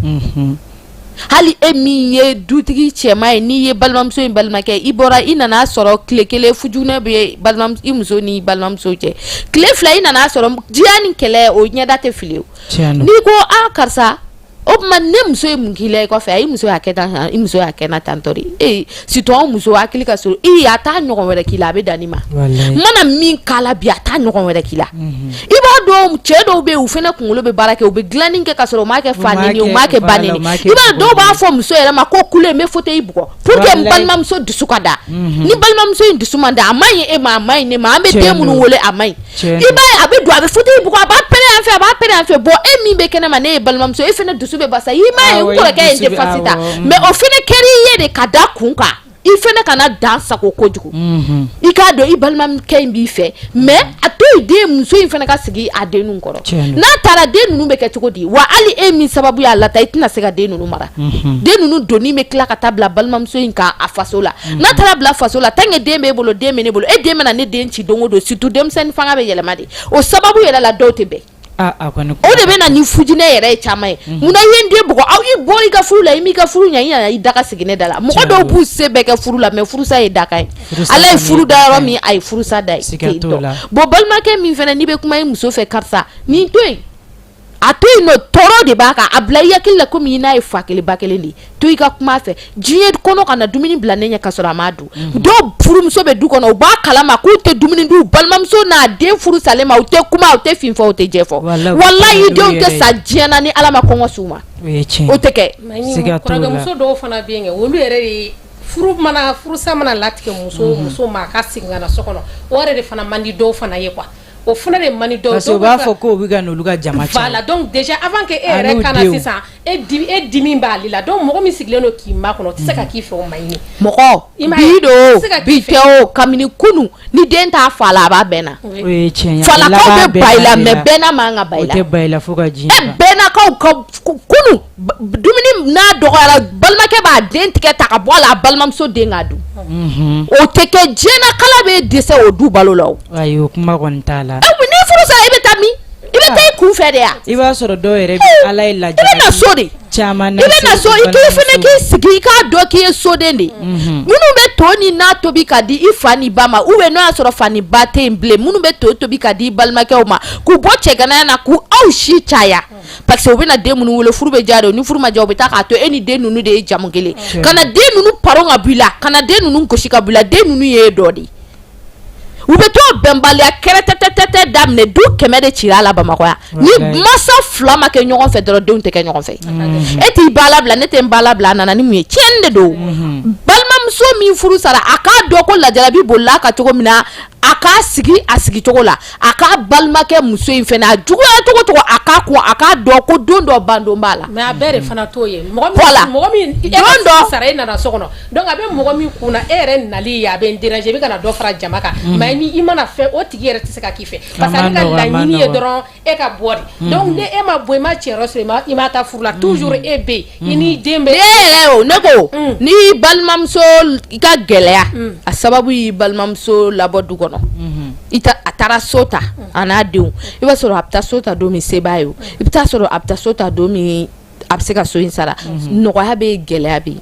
B: hali e min ye dutigi cɛma ye n'i ye balimamuso in balimakɛ i bɔra i nana sɔrɔ tile kelen fitinɛ bɛ balima i muso ni balimamuso cɛ tile fila i nana sɔrɔ diya ni kɛlɛ o ɲɛda tɛ fili o n'i ko a karisa o tuma ne muso ye mun k'i la i kɔfɛ a i muso y'a kɛ tan i muso y'a kɛ na tantɔ de ee surtout an muso hakili ka surun a t'a ɲɔgɔn wɛrɛ k'i la a bɛ dan nin ma n mana min k'a la bi a t'a ɲɔgɔn wɛrɛ k'i la mhm. i b'a dɔn cɛ dɔw bɛ u fana kunkolo bɛ baara kɛ u bɛ dilanin kɛ ka sɔrɔ u m'a kɛ fa neni u m'a kɛ ba neni i b'a dɔw b'a fɔ muso yɛrɛ ma ko kule n bɛ fauteuil bugɔ pour que n balimamuso dusu ka da mhm. ni balimamuso in dusu ma da a man ɲi e ma a man ɲi ne ma an bɛ den minnu wolo a man ɲi cɛ i b'a ye a bɛ don a bɛ fauteuil bugɔ a b'a pɛrɛn yan fɛ a b'a pɛrɛn yan fɛ bon e min bɛ kɛnɛma ne ye balimamuso ye e fana dusu bɛ basa i m'a ye n kɔrɔkɛ ye n défense ta mais o fana kɛra i ye de ka da kun kan i fana kana dan sagon kojugu i k'a dɔn i balimakɛ in b'i fɛ mais a to yen dɛ muso in fana ka sigi a den ninnu kɔrɔ n'a taara den ninnu bɛ kɛ cogo di wa hali e min sababu y'a lataa i tɛna se ka den ninnu mara den ninnu donni bɛ tila ka taa bila balimamuso in kan a faso la n'a taara bila faso la tant que den b'e bolo den bɛ ne bolo e den bɛna ne den ci don o don surtout denmisɛnnin fanga bɛ yɛlɛma de o sababu yɛrɛ la dɔw tɛ bɛn o de bɛ na ni fitinɛ yɛrɛ ye caman ye munna i ye n den bugɔ aw i bɔra i ka furu la i m'i ka furu ɲɛ i nana i daga sigi ne da la mɔgɔ dɔw b'u se bɛɛ kɛ furu la mais furusa ye dakan ye ala ye furu da yɔrɔ min a ye furusa da yen bon balimakɛ min fana n'i bɛ kuma i muso fɛ karisa nin to a to yen non tɔɔrɔ de b'a kan a bila i hakili la komi i n'a ye fa kelen ba kelen de to i ka kuma a fɛ diɲɛ kɔnɔ kana dumuni bila ne ɲɛ ka sɔrɔ a m'a dun mhm. dɔw furumuso bɛ du kɔnɔ u b'a kalama k'u tɛ dumuni dun balimamuso n'a den furu salen ma u tɛ kuma u tɛ fin fɔ u tɛ jɛ fɔ walayi denw tɛ sa diɲɛ na ni ala ma kɔngɔ s'u ma o tɛ kɛ kɔrɔkɛmuso
C: dɔw fana bɛ yen olu yɛrɛ de furu mana furusa mana latigɛ muso mhm. muso ma a ka segin ka na so kɔnɔ o yɛrɛ de fana man di dɔw fana ye quoi o fana de man di dɔw ye, parce que u b'a fɔ k'o bɛ
A: ka n'olu ka jama caya, voilà donc déjà
C: avant que e yɛrɛ ka na sisan e dimi e dimi b'ale la donc mɔgɔ min sigilen don k'i makɔnɔ o tɛ se ka k'i fɛ o man ɲi, mɔgɔ bi don
B: o bi tɛ o kabini kunun ni den t'a fa la a b'a bɛɛna, o ye tiɲɛ
A: ye, falakaw bɛ ban i la
B: mais bɛɛna man kan ka ban i la, o tɛ ban i la fo ka diɲɛ ban,
A: e bɛɛnakaw ka
B: kunun dumuni n'a dɔgɔyara balimakɛ b'a den tɛgɛ ta ka bɔ a la a balimamuso den k'a dun o tɛ kɛ diɲɛ na k'ala bɛ dɛsɛ o du balo la ayi kuma t'a
A: la ni furu sara i bɛ
B: taa min i bɛ taa i kun fɛ de yan i b'a sɔrɔ dɔw yɛrɛ
A: ala i bɛ na so
B: de caman i bɛ na
A: so
B: i k'i fana k'i sigi i k'a dɔn k'i ye soden de minnu bɛ to ni na tobi ka di i fa ni ba ma ou bien n'o y'a sɔrɔ fa ni ba tɛ yen bilen minnu bɛ to tobi ka di i balimakɛw ma k'u bɔ cɛganaya na k'u aw si caya parce que u bɛna den minnu wolo furu bɛ diya de ye, ni furu ma diya u bɛ taa k'a to e ni den ninnu de ye jamu kelen ye, kana den ninnu paron ka bɔ i la, kana den ninnu gosi ka bɔ i la, den ninnu y'e dɔ de ye, u bɛ t'o bɛnbaliya kɛrɛtɛtɛtɛ daminɛ du kɛmɛ de cira a la Bamakɔ yan, ni mansa fila ma kɛ ɲɔgɔn fɛ dɔrɔn denw tɛ kɛ ɲɔgɔn fɛ, e t'i ba labila ne tɛ n ba labila a nana ni mun ye tiɲɛni de don, unhun, balimamuso min furu sara a k'a dɔn ko lajarabi bolila a kan cogo min na a k'a sigi a sigi cogo la a k'a balimakɛ muso in fana a juguya cogo o cogo a k'a kun a k'a dɔn ko don dɔ bandon b'a la mais a bɛɛ de fana t'o ye
C: mɔgɔ min voilà mɔgɔ min e ka don dɔ sara e nana so kɔnɔ donc a bɛ mɔgɔ min kun na e yɛrɛ nali ye a bɛ n déranger i bɛ ka na dɔ fara jama kan mais ni i mana fɛn o tigi yɛrɛ tɛ se ka k'i fɛ parce que ale ka laɲini ye dɔrɔn e ka bɔ de mhm. donc ni e ma bɔ i ma cɛyɔrɔ sɔrɔ i ma i ma taa furu la mhm. toujours e bɛ yen i n'i mhm. den bɛ. ne yɛrɛ o ne
B: ko mm. n'i balimamuso i ka gɛlɛya mm. a sababu y'i balimamuso labɔ du kɔnɔ i ta a taara so ta mm. a n'a denw i b'a sɔrɔ a bɛ taa so ta don min se b'a ye o i bɛ taa sɔrɔ a bɛ taa so ta don min a bɛ se ka so in sara nɔgɔya bɛ yen gɛlɛya bɛ yen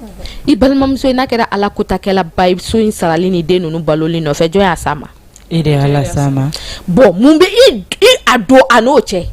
B: i balimamuso in n'a kɛra ala kotakɛla ba ye so in sarali ni den ninnu baloli nɔfɛ jɔn y'a s'a ma. e de y'a las'a
A: ma bon mun bɛ i
B: i a don a n'o cɛ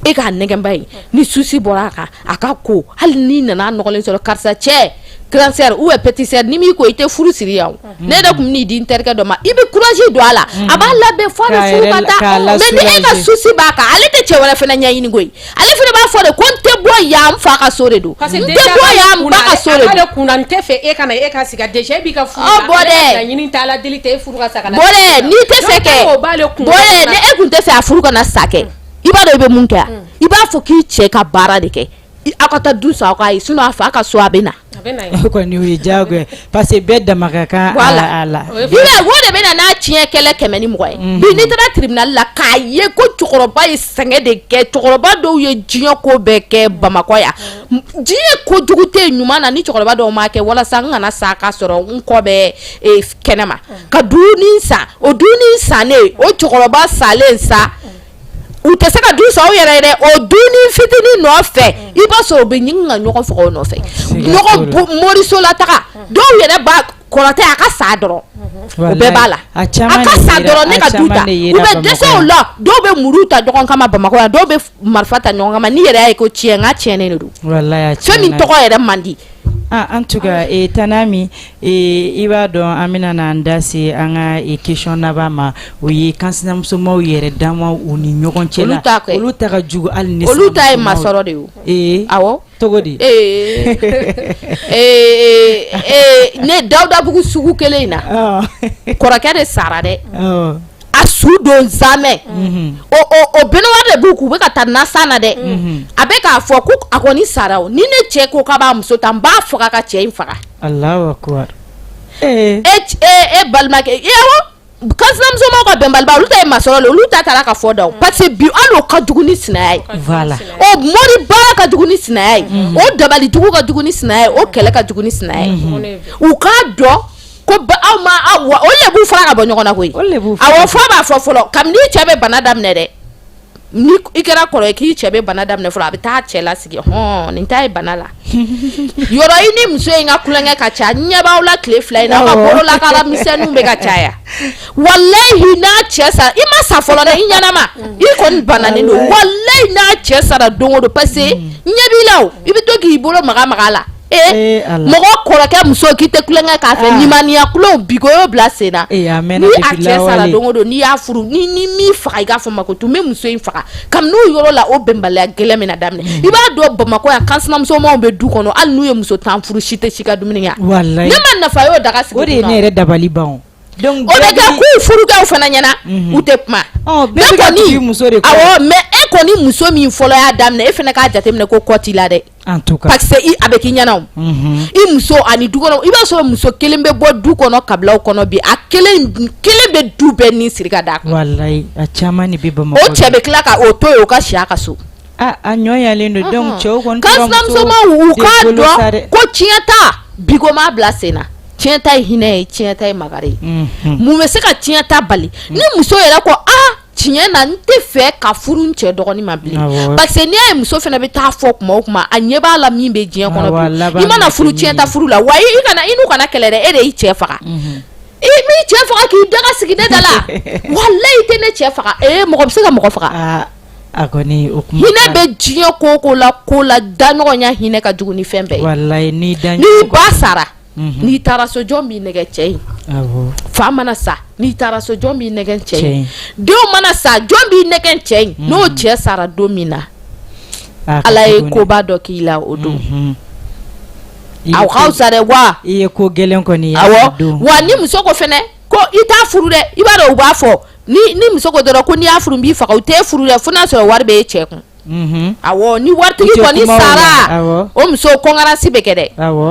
B: e k'a nɛgɛnba ye ni souci bɔra a kan a ka ko hali n'i nana a nɔgɔlen sɔrɔ karisa cɛ grande sœur ou bien petite sœur n'i m'i ko i tɛ furu siri yan o ne yɛrɛ tun bɛ n'i di n terikɛ dɔ ma i bɛ courage don a la a b'a labɛn f'a bɛ furu ka taa mais ni e ka souci b'a kan ale tɛ cɛ wɛrɛ fana ɲɛɲini koyi Ale fana b'a fɔ de ko n tɛ bɔ yan n fa ka so de don parce que n tɛ déjà bɔ yan n ba ka so de a b'a de don kun na n tɛ fɛ e
C: ka na e ka sigi déjà e b'i ka furu Ɔ, la, bɔ ale dɛ. ka laɲini tɛ
B: Ala deli tɛ
C: e furu ka sa ka na bɔ dɛ n'i tɛ fɛ
B: kɛ o b'ale kun na. bɔ dɛ ni e kun tɛ fɛ a furu kana sa kɛ i b'a dɔn i bɛ mun kɛ a i b'a fɔ k'i cɛ ka baara de kɛ I- aw ka taa du san aw k'a ye sinon a fa ka so a bɛ na A bɛ na yen, o kɔni
A: o ye diyagoya ye parce que bɛɛ dama ka kan a la, o de bɛ
B: na n'a tiɲɛ kɛlɛ 100 ni 20 ye, unhun, bi n'i taara tribunal la k'a ye ko cɛkɔrɔba ye sɛgɛn de kɛ, cɛkɔrɔba dɔw ye diɲɛ ko bɛɛ kɛ Bamakɔ yan, diɲɛ ko jugu tɛ yen ɲuman na ni cɛkɔrɔba dɔw m'a kɛ walasa n kana sa k'a sɔrɔ n kɔ bɛ kɛnɛma, ka dunin san, o dunin sannen o cɛkɔrɔba salen sa u tɛ se ka du san u yɛrɛ ye dɛ o dunin fitinin nɔfɛ i b'a sɔrɔ u bɛ ɲini ka ɲɔgɔn faga o nɔfɛ moriso la taga dɔw yɛrɛ b'a kɔrɔtɛ a ka sa dɔrɔn u bɛɛ b'a la a ka sa dɔrɔn ne ka du ta u bɛ dɛsɛ o la dɔw bɛ muru ta ɲɔgɔn kama bamakɔ yan dɔw bɛ marifa ta ɲɔgɔn kama n'i yɛrɛ y'a ye ko tiɲɛ n ka tiɲɛnen de don fɛn min tɔgɔ yɛrɛ man di En
A: tout cas Tanami i b'a dɔn an bɛna n'an da se an ka question laban ma o ye kansinamusomaw yɛrɛ dama u ni ɲɔgɔn cɛ olu ta olu ta ka jugu hali ni olu ta ye masɔrɔ
B: de ye a tɔgɔ di ee ne dawudabugu sugu kelen in na kɔrɔkɛ de sara dɛ a su don zamɛ o baignoire de b'u kun u bɛ ka taa n'a sa na dɛ a bɛ k'a fɔ ko a kɔni sara o ni ne cɛ ko k'a b'a muso ta n b'a faga ka cɛ in faga Allahu akbar e balimakɛ a kansinamusomaw ka bɛnbaliba olu ta ye masɔrɔ le olu ta taara ka fɔ da parce que bi hali o ka jugu ni sinaya ye voilà
A: o mori
B: baara ka jugu ni sinaya ye o dabalijugu ka jugu ni sinaya ye o kɛlɛ ka jugu ni sinaya ye u k'a dɔn ko aw ma wa o le b'u fara ka bɔ ɲɔgɔn na koyi awɔ fɔ b'a fɔ fɔlɔ kabini cɛ bɛ bana daminɛ dɛ ni i kɛra kɔrɔ ye k'i cɛ bɛ bana daminɛ fɔlɔ a bɛ taa cɛ la sigi hɔn nin ta ye bana la yɔrɔ i ni muso in ka kulonkɛ ka ca ɲɛ b'aw la tile fila in na aw ka bolo la kala misɛnninw bɛ ka caya walayi n'a cɛ sara i ma sa fɔlɔ dɛ i ɲɛnama mm. i kɔni bananen don walayi n'a cɛ sara don o don parce que mm. ɲɛ b'i la o i bɛ to k'i bolo maga maga la mɔgɔ kɔrɔkɛ muso k'i tɛ tulonkɛ k'a fɛ nimaniya tulon bi ko y'o bila sen na ni a cɛ sara don o don n'i y'a furu ni ni min faga i k'a fɔ ma ko tun bɛ muso in faga kabini n'o yɔrɔ la o bɛnbaliya gɛlɛn min na daminɛ i b'a dɔn bamakɔ yan kansinamusomanw bɛ du kɔnɔ hali n'u ye muso tan furu si tɛ si ka dumuni kɛ ne ma nafa y'o daga sigi o de ye ne yɛrɛ
A: dabali ban donc o bɛ
B: kɛ k'u furukɛw fana ɲɛna u tɛ kuma bɛɛ ka
A: tugu muso de kɔ awɔ mais e kɔni
B: muso min fɔlɔ y'a daminɛ e fana k'a jateminɛ ko kɔ t'i la dɛ
A: A bɛ k'i
B: ɲɛna o i muso ani du kɔnɔ i b'a sɔrɔ muso kelen bɛ bɔ du kɔnɔ kabilaw kɔnɔ bi a kelen bɛ du bɛɛ ni siri ka d'a kan walayi a caman
A: de bɛ bamakɔ o cɛ bɛ tila ka o
B: to yen o ka si a ka so a ɲɔgɔn
A: yelen don donc cɛw kɔni
B: kansinamusomanw u k'a dɔn ko tiɲɛta bi ko m'a bila sen na tiɲɛta ye hinɛ ye tiɲɛta ye makari ye mun bɛ se ka tiɲɛta bali ni muso yɛrɛ ko tiɲɛ na n tɛ fɛ ka furu n cɛ dɔgɔnin ma bilen parce que n'i y'a ye muso fana bɛ taa fɔ kuma o kuma a ɲɛ b'a la min bɛ diɲɛ kɔnɔ bi i mana furu tiɲɛ ta furu la wa i kana i n'u kana kɛlɛ dɛ e de y'i cɛ faga mhm. i m'i cɛ faga k'i daga sigi ne da la walayi i tɛ ne cɛ faga ee mɔgɔ bɛ se ka mɔgɔ faga ah, a kɔni
A: o kuma hinɛ bɛ diɲɛ ko
B: ko la ko la daɲɔgɔnya hinɛ ka jugu ni fɛn bɛɛ ye walayi n'i daɲɔgɔn n'i
A: ba sara
B: n'i taara so jɔn b'i nɛgɛ cɛ in awɔ fa mana sa n'i taara so jɔn b'i nɛgɛ cɛ in denw mana sa jɔn b'i nɛgɛ cɛ in n'o cɛ sara don min na A ka ala ye jugu dɛ. koba dɔ k'i la o don Mhm. I ye aw ko- k'aw sa dɛ wa i ye ko gɛlɛn
A: kɔni ye a awɔ don. wa ni
B: muso ko fɛnɛ ko i t'a furu dɛ i b'a dɔn u b'a fɔ ni ni muso ko dɔrɔn ko n'i y'a furu n b'i faga u t'e furu dɛ fo n'a sɔrɔ wari bɛ e cɛ kun ni waritigi kɔni sara o muso concurrence bɛ kɛ dɛ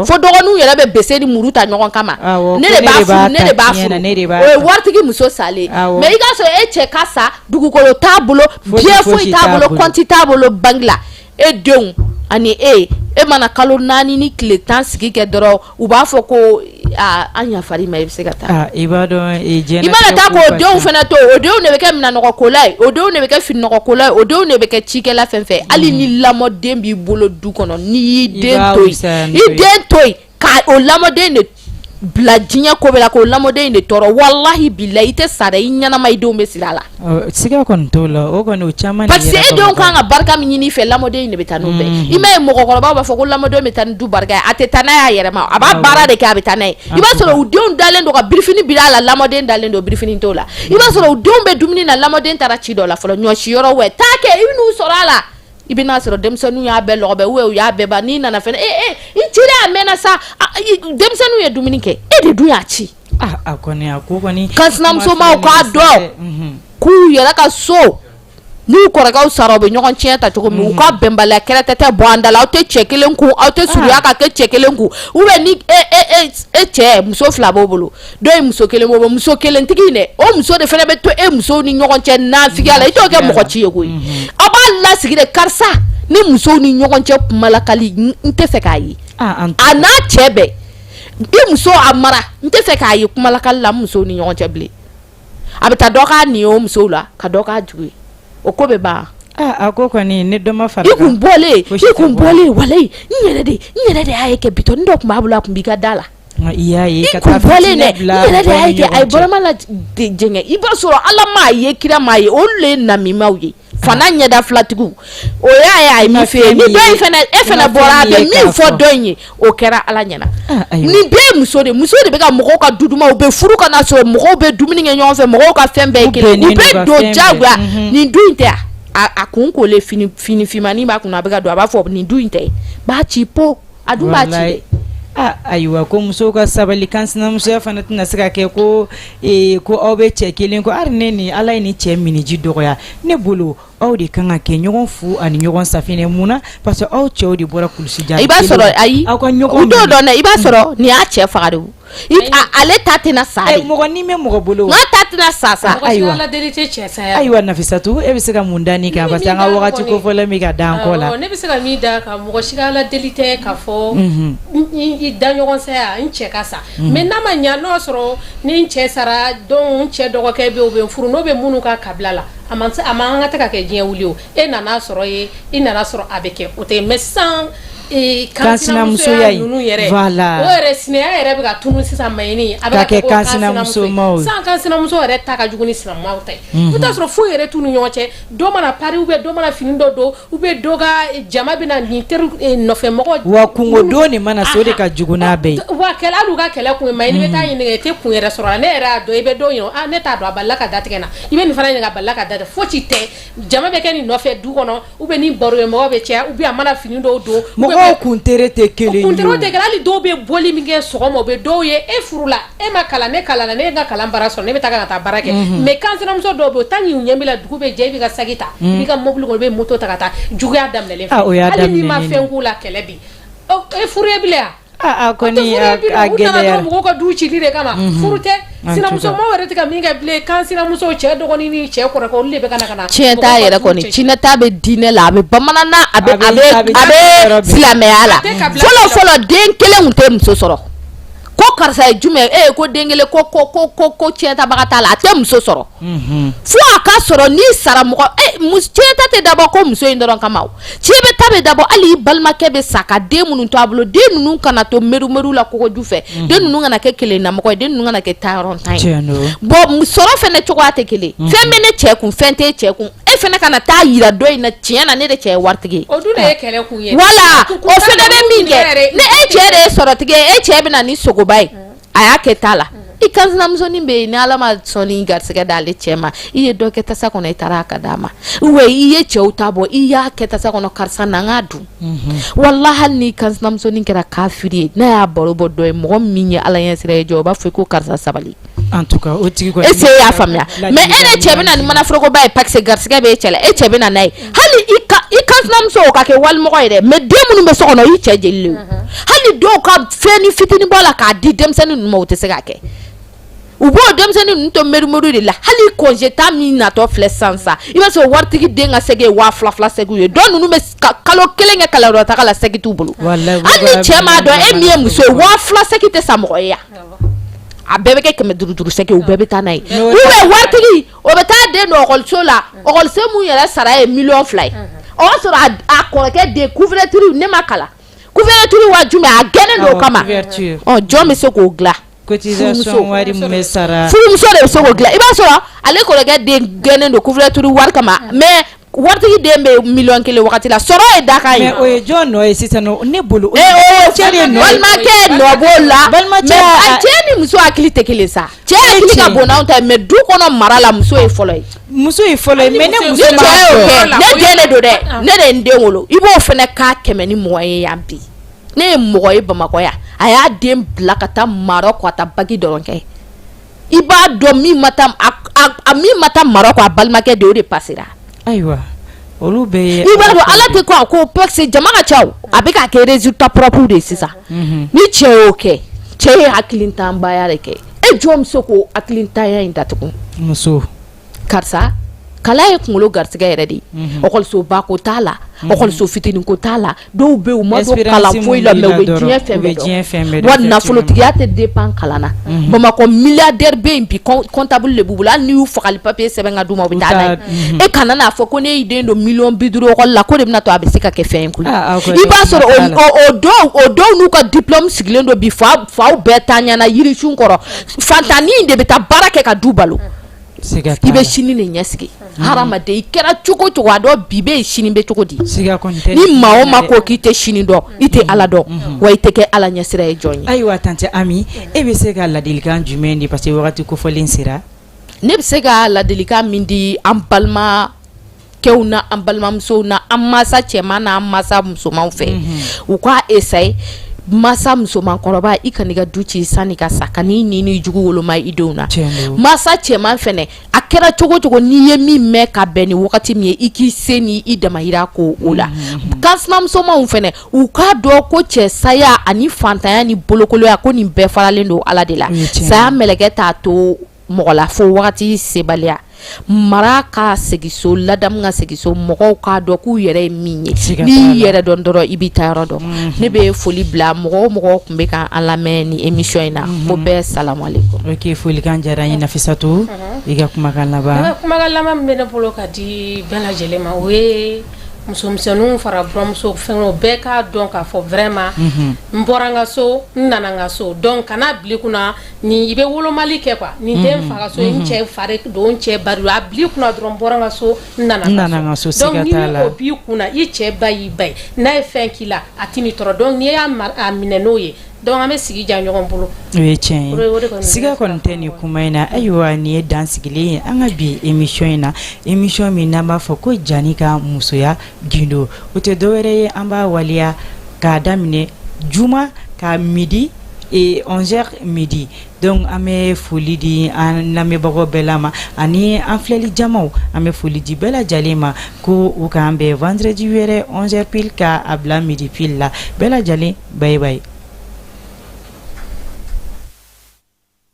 B: fo dɔgɔninw yɛrɛ bɛ bese ni muru ta ɲɔgɔn kama ne de b'a furu ne de b'a furu waritigi muso sa le mais i ka sɔrɔ e cɛ ka sa dugukolo t'a bolo bien foyi t'a bolo compte t'a bolo banque la e denw ani e e mana kalo naani ni tile tan sigi kɛ dɔrɔn u b'a fɔ ko an yafara i ma i bɛ se ka taa i b'a
A: dɔn i mana taa
B: k'o denw fana to o denw de bɛ kɛ minɛnɔgɔkola ye o denw de bɛ kɛ fininɔgɔkola ye o denw de bɛ kɛ cikɛla fɛn fɛ hali ni lamɔden b'i bolo du kɔnɔ n'i y'i den to yen i den to yen ka o lamɔden de bila diɲɛ ko bɛɛ la k'o lamɔden de tɔɔrɔ walahi bilahi i tɛ sa dɛ i ɲɛnama i denw bɛ sira a la Siga kɔni
A: t'o la o kɔni caman parce que e denw kan
B: ka barika min ɲini i fɛ lamɔden de bɛ taa n'o bɛɛ i m'a ye mɔgɔkɔrɔbaw b'a fɔ ko lamɔden bɛ taa ni du barika ye a tɛ taa n'a y'a yɛrɛ ma a b'a baara de kɛ a bɛ taa n'a ye i b'a sɔrɔ u denw dalen don ka birifini biri a la lamɔden dalen don birifini t'o la i b'a sɔrɔ u denw bɛ dumuni na lamɔden taara ci dɔ la fɔlɔ ɲɔ si yɔrɔ wɛrɛ taa kɛ i bɛ n'u sɔrɔ a la i bɛn'a sɔrɔ denmisɛnninw y'a bɛɛ lɔgɔbɛ u y'a bɛɛ ban n'i nana fana i cira a mɛnna sa denmisɛnninw ye dumuni kɛ e de dun y'a ci A kɔni
A: a ko kɔni kansinamusomaw
B: k'a dɔn k'u yɛrɛ ka so n'u kɔrɔkɛw sara u bɛ ɲɔgɔn tiɲɛ ta cogo min u ka bɛnbaliya kɛlɛ tɛ tɛ bɔ an da la aw tɛ cɛ kelen kun aw tɛ surunya ka kɛ cɛ kelen kun u bɛ ni e cɛ muso fila b'o bolo dɔ ye muso kelen b'o muso kelentigi in dɛ o muso de fana bɛ to e musow ni ɲɔgɔn cɛ nafigiya la i t'o kɛ mɔgɔ ci ye koyi aw b'a lasigi de karisa ni musow ni ɲɔgɔn cɛ kuma lakali n tɛ fɛ k'a ye a n'a cɛ bɛɛ i muso a mara n tɛ fɛ k'a ye kumalakali la musow ni ɲɔgɔn cɛ bilen a bɛ taa dɔ k'a nin o musow la ka dɔ k'a jugu ye o ko bɛ ban a ko kɔni
A: ne dɔ ma fara i kun bɔlen i
B: kun bɔlen walayi n yɛrɛ de n yɛrɛ de y'a ye kɛ bitɔn dɔ tun b'a bolo a tun b'i ka da la i y'a
A: ye ka taa bɔlen
B: dɛ n yɛrɛ de y'a ye kɛ a ye bɔrɔma la jɛngɛ i b'a sɔrɔ Ala m'a ye kira m'a ye olu le ye namimaw ye fana ɲɛda filatigiw o y'a ye a ye min f'e ye ni dɔ in fana e fana bɔra a bɛ min fɔ dɔ in ye o kɛra ala ɲɛna ah, nin bɛɛ ye muso de muso de bɛ ka mɔgɔw ka du duman u bɛ furu ka na sɔrɔ mɔgɔw bɛ dumuni kɛ ɲɔgɔn fɛ mɔgɔw ka fɛn bɛɛ ye kelen u bɛ don jagoya mhm. nin du in tɛ a a kun kolen fini finmanin b'a kun a bɛ ka don a b'a fɔ nin du in tɛ b'a ci po A dun b'a ci, aa
A: ayiwa ko musow ka sabali kansinamusoya fana tɛna se ka kɛ ko ee ko aw bɛ cɛ kelen kɔ hali ne ni Ala ye nin cɛ miniji dɔgɔya ne bolo aw de ka kan ka kɛ ɲɔgɔn fu ani ɲɔgɔn safinɛ mun na parce que aw cɛw de bɔra kulusi jala kelen na, i b'a sɔrɔ ayi, aw
B: ka ɲɔgɔn minɛ, u t'o dɔn
A: dɛ, i b'a sɔrɔ
B: nin y'a cɛ faga de ye wo
A: Ale
B: ta tɛna sa bɛ
A: mɔgɔ
B: bolo ta tɛna sa sa
C: ayiwa ayiwa nafisatu e bɛ
A: se ka mun da nin kan parce que an ka waati kofɔlen min ka dan kɔ la ne bɛ se ka min da
C: kan mɔgɔ si ka ala deli tɛ ka fɔ i daɲɔgɔn saya n cɛ ka sa mais n'a ma ɲa n'o sɔrɔ ni n cɛ sara donc n cɛ dɔgɔkɛ bɛ o bɛ n furu n'o bɛ minnu ka kabila la a ma an ka tɛ ka kɛ diɲɛ wuli e nana sɔrɔ ye i nana sɔrɔ a bɛ kɛ o tɛ mais sisan kansinamusoya ninnu yɛrɛ o yɛrɛ
A: sinaya
C: yɛrɛ bɛ ka tunu sisan mais a bɛ ka kɛ kansinamuso sisan kansinamuso yɛrɛ ta ka jugu ni sina ta ye i t'a sɔrɔ foyi yɛrɛ t'u ni ɲɔgɔn cɛ dɔ mana pari ou bien dɔ mana fini dɔ don ou bien dɔ ka jama bɛ na nin teri nɔfɛ mɔgɔ wa kunko don
A: nin mana so de ka jugu n'a bɛɛ ye wa kɛlɛ u ka kɛlɛ
C: kun mais n'i bɛ taa ɲininka i tɛ kun yɛrɛ sɔrɔ ne yɛrɛ y'a dɔn i bɛ dɔ ɲininka ne t'a dɔn a bala ka da tigɛ n na i bɛ nin fana ɲininka k'a bala ka da fosi tɛ Jama bɛ kɛ nin nɔfɛ du kɔnɔ ou bien ni baro ye mɔgɔ bɛ caya ou bien a mana fini dɔw don mɔgɔ kuntere
A: tɛ kelen hali dɔw bɛ
C: bɔli min kɛ sɔgɔma bɛ dɔw ye e furula e ma kalan ne kalanna ne ye n ka kalan baara sɔrɔ ne bɛ taa ka taa baara kɛ mais kansinamuso dɔw bɛ yen tant que u ɲɛ b'i la dugu bɛ jɛ i b'i ka sagi ta i b'i ka mɔbili kɔnɔ i bɛ moto ta ka taa juguya daminɛna hali i ma fɛn k'u la kɛlɛ bi e furu e bila yan A kɔni
A: a gɛlɛyara u nana mɔgɔ
C: ka du ci de kama furu tɛ sinamuso yɛrɛ tɛ ka min kɛ bilen kansinamuso cɛ dɔgɔnin ni cɛ kɔrɔkɛ ciyɛnta yɛrɛ
B: kɔni ciyɛnta bɛ diinɛ la a bɛ bamanan na a bɛ silamɛya la fɔlɔ den kelen tun tɛ muso sɔrɔ ko karisa ye jumɛn e ko den kelen ko ciyɛntabaga t'a la a tɛ muso sɔrɔ fo a k'a sɔrɔ n'i sara mɔgɔ ciyɛnta tɛ dabɔ ko muso in dɔrɔn kama ciyɛnta bɛ dabɔ hali i balimakɛ bɛ sa ka den minnu to a bolo den ninnu kana to merumeru la kogo ju fɛ den ninnu kana kɛ kelennamɔgɔ ye den ninnu kana kɛ taayɔrɔntan ye bon sɔrɔ fɛnɛ cogoya tɛ kelen fɛn bɛ ne cɛ kun fɛn t'e cɛ kun e fɛnɛ kana taa yira dɔ in na tiɲɛ na ne de cɛ ye waritigi
C: ye wala o
B: fɛnɛ bɛ min kɛ ne e cɛ de ye sɔrɔtigi ye e cɛ bɛ na ni sogoba ye a y'a kɛ ta la i kansinamusonin bɛ yen ni ala ma sogo nin garisɛgɛ d'ale cɛ ma i ye dɔ kɛ tasa kɔnɔ i taara k'a d'a ma ou i ye cɛw ta bɔ i y'a kɛ tasa kɔnɔ karisa na an k'a dun mhm. walahi hali ni kansinamusonin kɛra kafiri ye n'a y'a baro bɔ dɔ ye mɔgɔ min ye ala ɲɛsiran ye jɔ o b'a fɔ ko karisa sabali en tout cas o
A: tigi kɔni e se y'a faamuya
B: mais e de cɛ bɛ na ni manaforokoba ye parce que garisɛgɛ b'e cɛ la e cɛ bɛ na n'a ye hali i kansinamuso o ka kɛ walimɔgɔ ye dɛ mais den minnu bɛ so kɔnɔ i cɛ jeli le hali dɔw ka fɛnnin fitinin bɔ a la k'a di denmisɛnnin ninnu ma o tɛ se k'a kɛ u b'o denmisɛnnin ninnu to merimeru de la hali congé ta min natɔ filɛ sisan sa i b'a sɔrɔ waritigi den ka sɛgi ye waa fila fila sɛgiw ye dɔw ninnu bɛ kalo kelen kɛ kalanyɔrɔtaga la sɛgi t'u bolo hali ni cɛ m'a dɔn e min ye muso ye waa fila sɛgi tɛ san mɔgɔ ye yan a bɛɛ bɛ kɛ kɛmɛ duuru duuru sɛgi u bɛɛ bɛ taa n'a ye ou bien waritigi o bɛ taa den donso la oso min yɛrɛ sara ye mi fila ye o y'a sɔrɔ a kɔrɔkɛ den kutiri ne ma kalatiri wa a gɛn don o kama jɔn bɛ se k'o
A: dila sara
B: i'a sɔrɔ ale kɔrɔkɛ den gɛn dontiri wari kama mɛ Waritigi den bɛ miliyɔn kelen waati la sɔrɔ ye dakan ye o ye jɔn nɔ
A: ye sisan ne bolo
B: cɛ de nɔ balimakɛ nɔ b'o la mais cɛ ni muso hakili tɛ kelen sa cɛ hakili ka bon n'anw ta ye mais du kɔnɔ mara la muso ye fɔlɔ ye muso ye fɔlɔ mais
A: ne muso ma kɛ
B: ne den de don dɛ ne de ye n den wolo i b'o fɛnɛ ka kɛmɛ ni mugan ye yan bi ne ye mɔgɔ ye bamakɔ yan a y'a den bila ka taa marɔku a taa baki dɔrɔn kɛ i b'a dɔn min ma taa a min ma taa marɔku a balimakɛ den o de pasera ayiwa
A: olu bɛ ye i b'a dɔn ala tɛ ko a
B: ko parce que jama ka ca a bɛ ka kɛ résultat propre de ye sisan mhm. ni cɛ y'o kɛ cɛ ye hakilintanbaya de kɛ e jɔn bɛ se k'o hakilintanya in datugu muso
A: karisa
B: kala ye kunkolo garigɛ yɛrɛ de yesoba ko t'a laso fitinin ko t'a la dɔw bɛ nafolotigiya tɛ den pan kalan na bamakɔ mi bɛta de b' bolo n''u faga papi sɛbɛn ka ma bɛ e kana n'a fɔ ko ne' den don mi bi duuru la ko de bɛna to a bɛ se ka kɛ fɛn kun i'a sɔrɔ o dɔw n'u ka di sigilen don bi fa faw bɛɛ ta ɲɛnaana yiric kɔrɔ fatanani de bɛ taa baara kɛ ka du balo i bɛ sini de ɲɛsigi hadamaden i kɛra cogo cogo a dɔn bi bɛ sini bɛ cogo di ni maa o maa ko k'i tɛ sini dɔn i tɛ ala dɔn wa i tɛ kɛ ala ɲɛsiranɲɛ jɔn ye ayiwa tanti
A: ami e bɛ se ka ladilikan jumɛn di parce que wagati kofɔlen sera ne bɛ se
B: ka ladilikan min di an balima kɛw na an balimamusow na an masa cɛman na an masa musomanw fɛ u k'a essayer masa musoman kɔrɔba i kan'i ka du ci sanni ka sa ka ɲi ni jugu woloma i denw na masa cɛman fɛnɛ a kɛra cogo cogo n'i ye min mɛn ka bɛn ni wagati min ye i k'i se ni i damayira ko o la kan sinamusomaw fɛnɛ u k'a dɔn ko cɛ saya ani faantanya ni bolokolonya ko nin bɛɛ faralen don ala de la saya mɛlɛkɛ t'a to mɔgɔ la fo wagati sebaliya mara ka seginso ladamu ka seginso mɔgɔw k'a dɔn k'u yɛrɛ ye min ye n'i yɛrɛ dɔn dɔrɔn i b'i taayɔrɔ dɔn mhm. ne bɛ foli bila mɔgɔ o mɔgɔ tun bɛ ka an lamɛn nin emisɔn in na mhm. ko bɛɛ salamalekum folikan
A: diyara n ye nafisatu i ka kumakan laban n ka kumakan laban min
C: bɛ ne bolo ka di bɛɛ lajɛlen ma o ye musomisɛnninw fara buramuso fɛnw bɛɛ k'a dɔn k'a fɔ vraiment mhm. n bɔra n ka so n nana n ka so dɔnku kana n'a bil'i kunna ni i bɛ wolomali kɛ kuwa nin den mhm. fa ka so n mhm. cɛ fa don n cɛ ba a bil'i kunna dɔrɔn n bɔra n ka so n nana n ka so dɔnku ni o b'i kunna i cɛ ba y'i ba ye n'a ye fɛn k'i la a t'i ni tɔɔrɔ dɔnku n'i y'a minɛ n'o ye dɔnku an bɛ sigi ja ɲɔgɔn bolo o ye
A: tiɲɛ ye siga kɔni tɛ nin kuma in na ayiwa nin ye dan sigilen ye an ka bi emisɔn in na emisɔn min n'an b'a fɔ ko jani ka musoya gindo o tɛ dɔwɛrɛ ye an b'a waleya k'a daminɛ juma ka midi Ee onze heures midi dɔnku an bɛ foli di an lamɛnbagaw bɛɛ la ma ani an filɛli jamaw an bɛ foli di bɛɛ lajɛlen ma ko u ka an bɛn vendredi wɛrɛ onze heures pile ka a bila midi pile la bɛɛ lajɛlen bye bye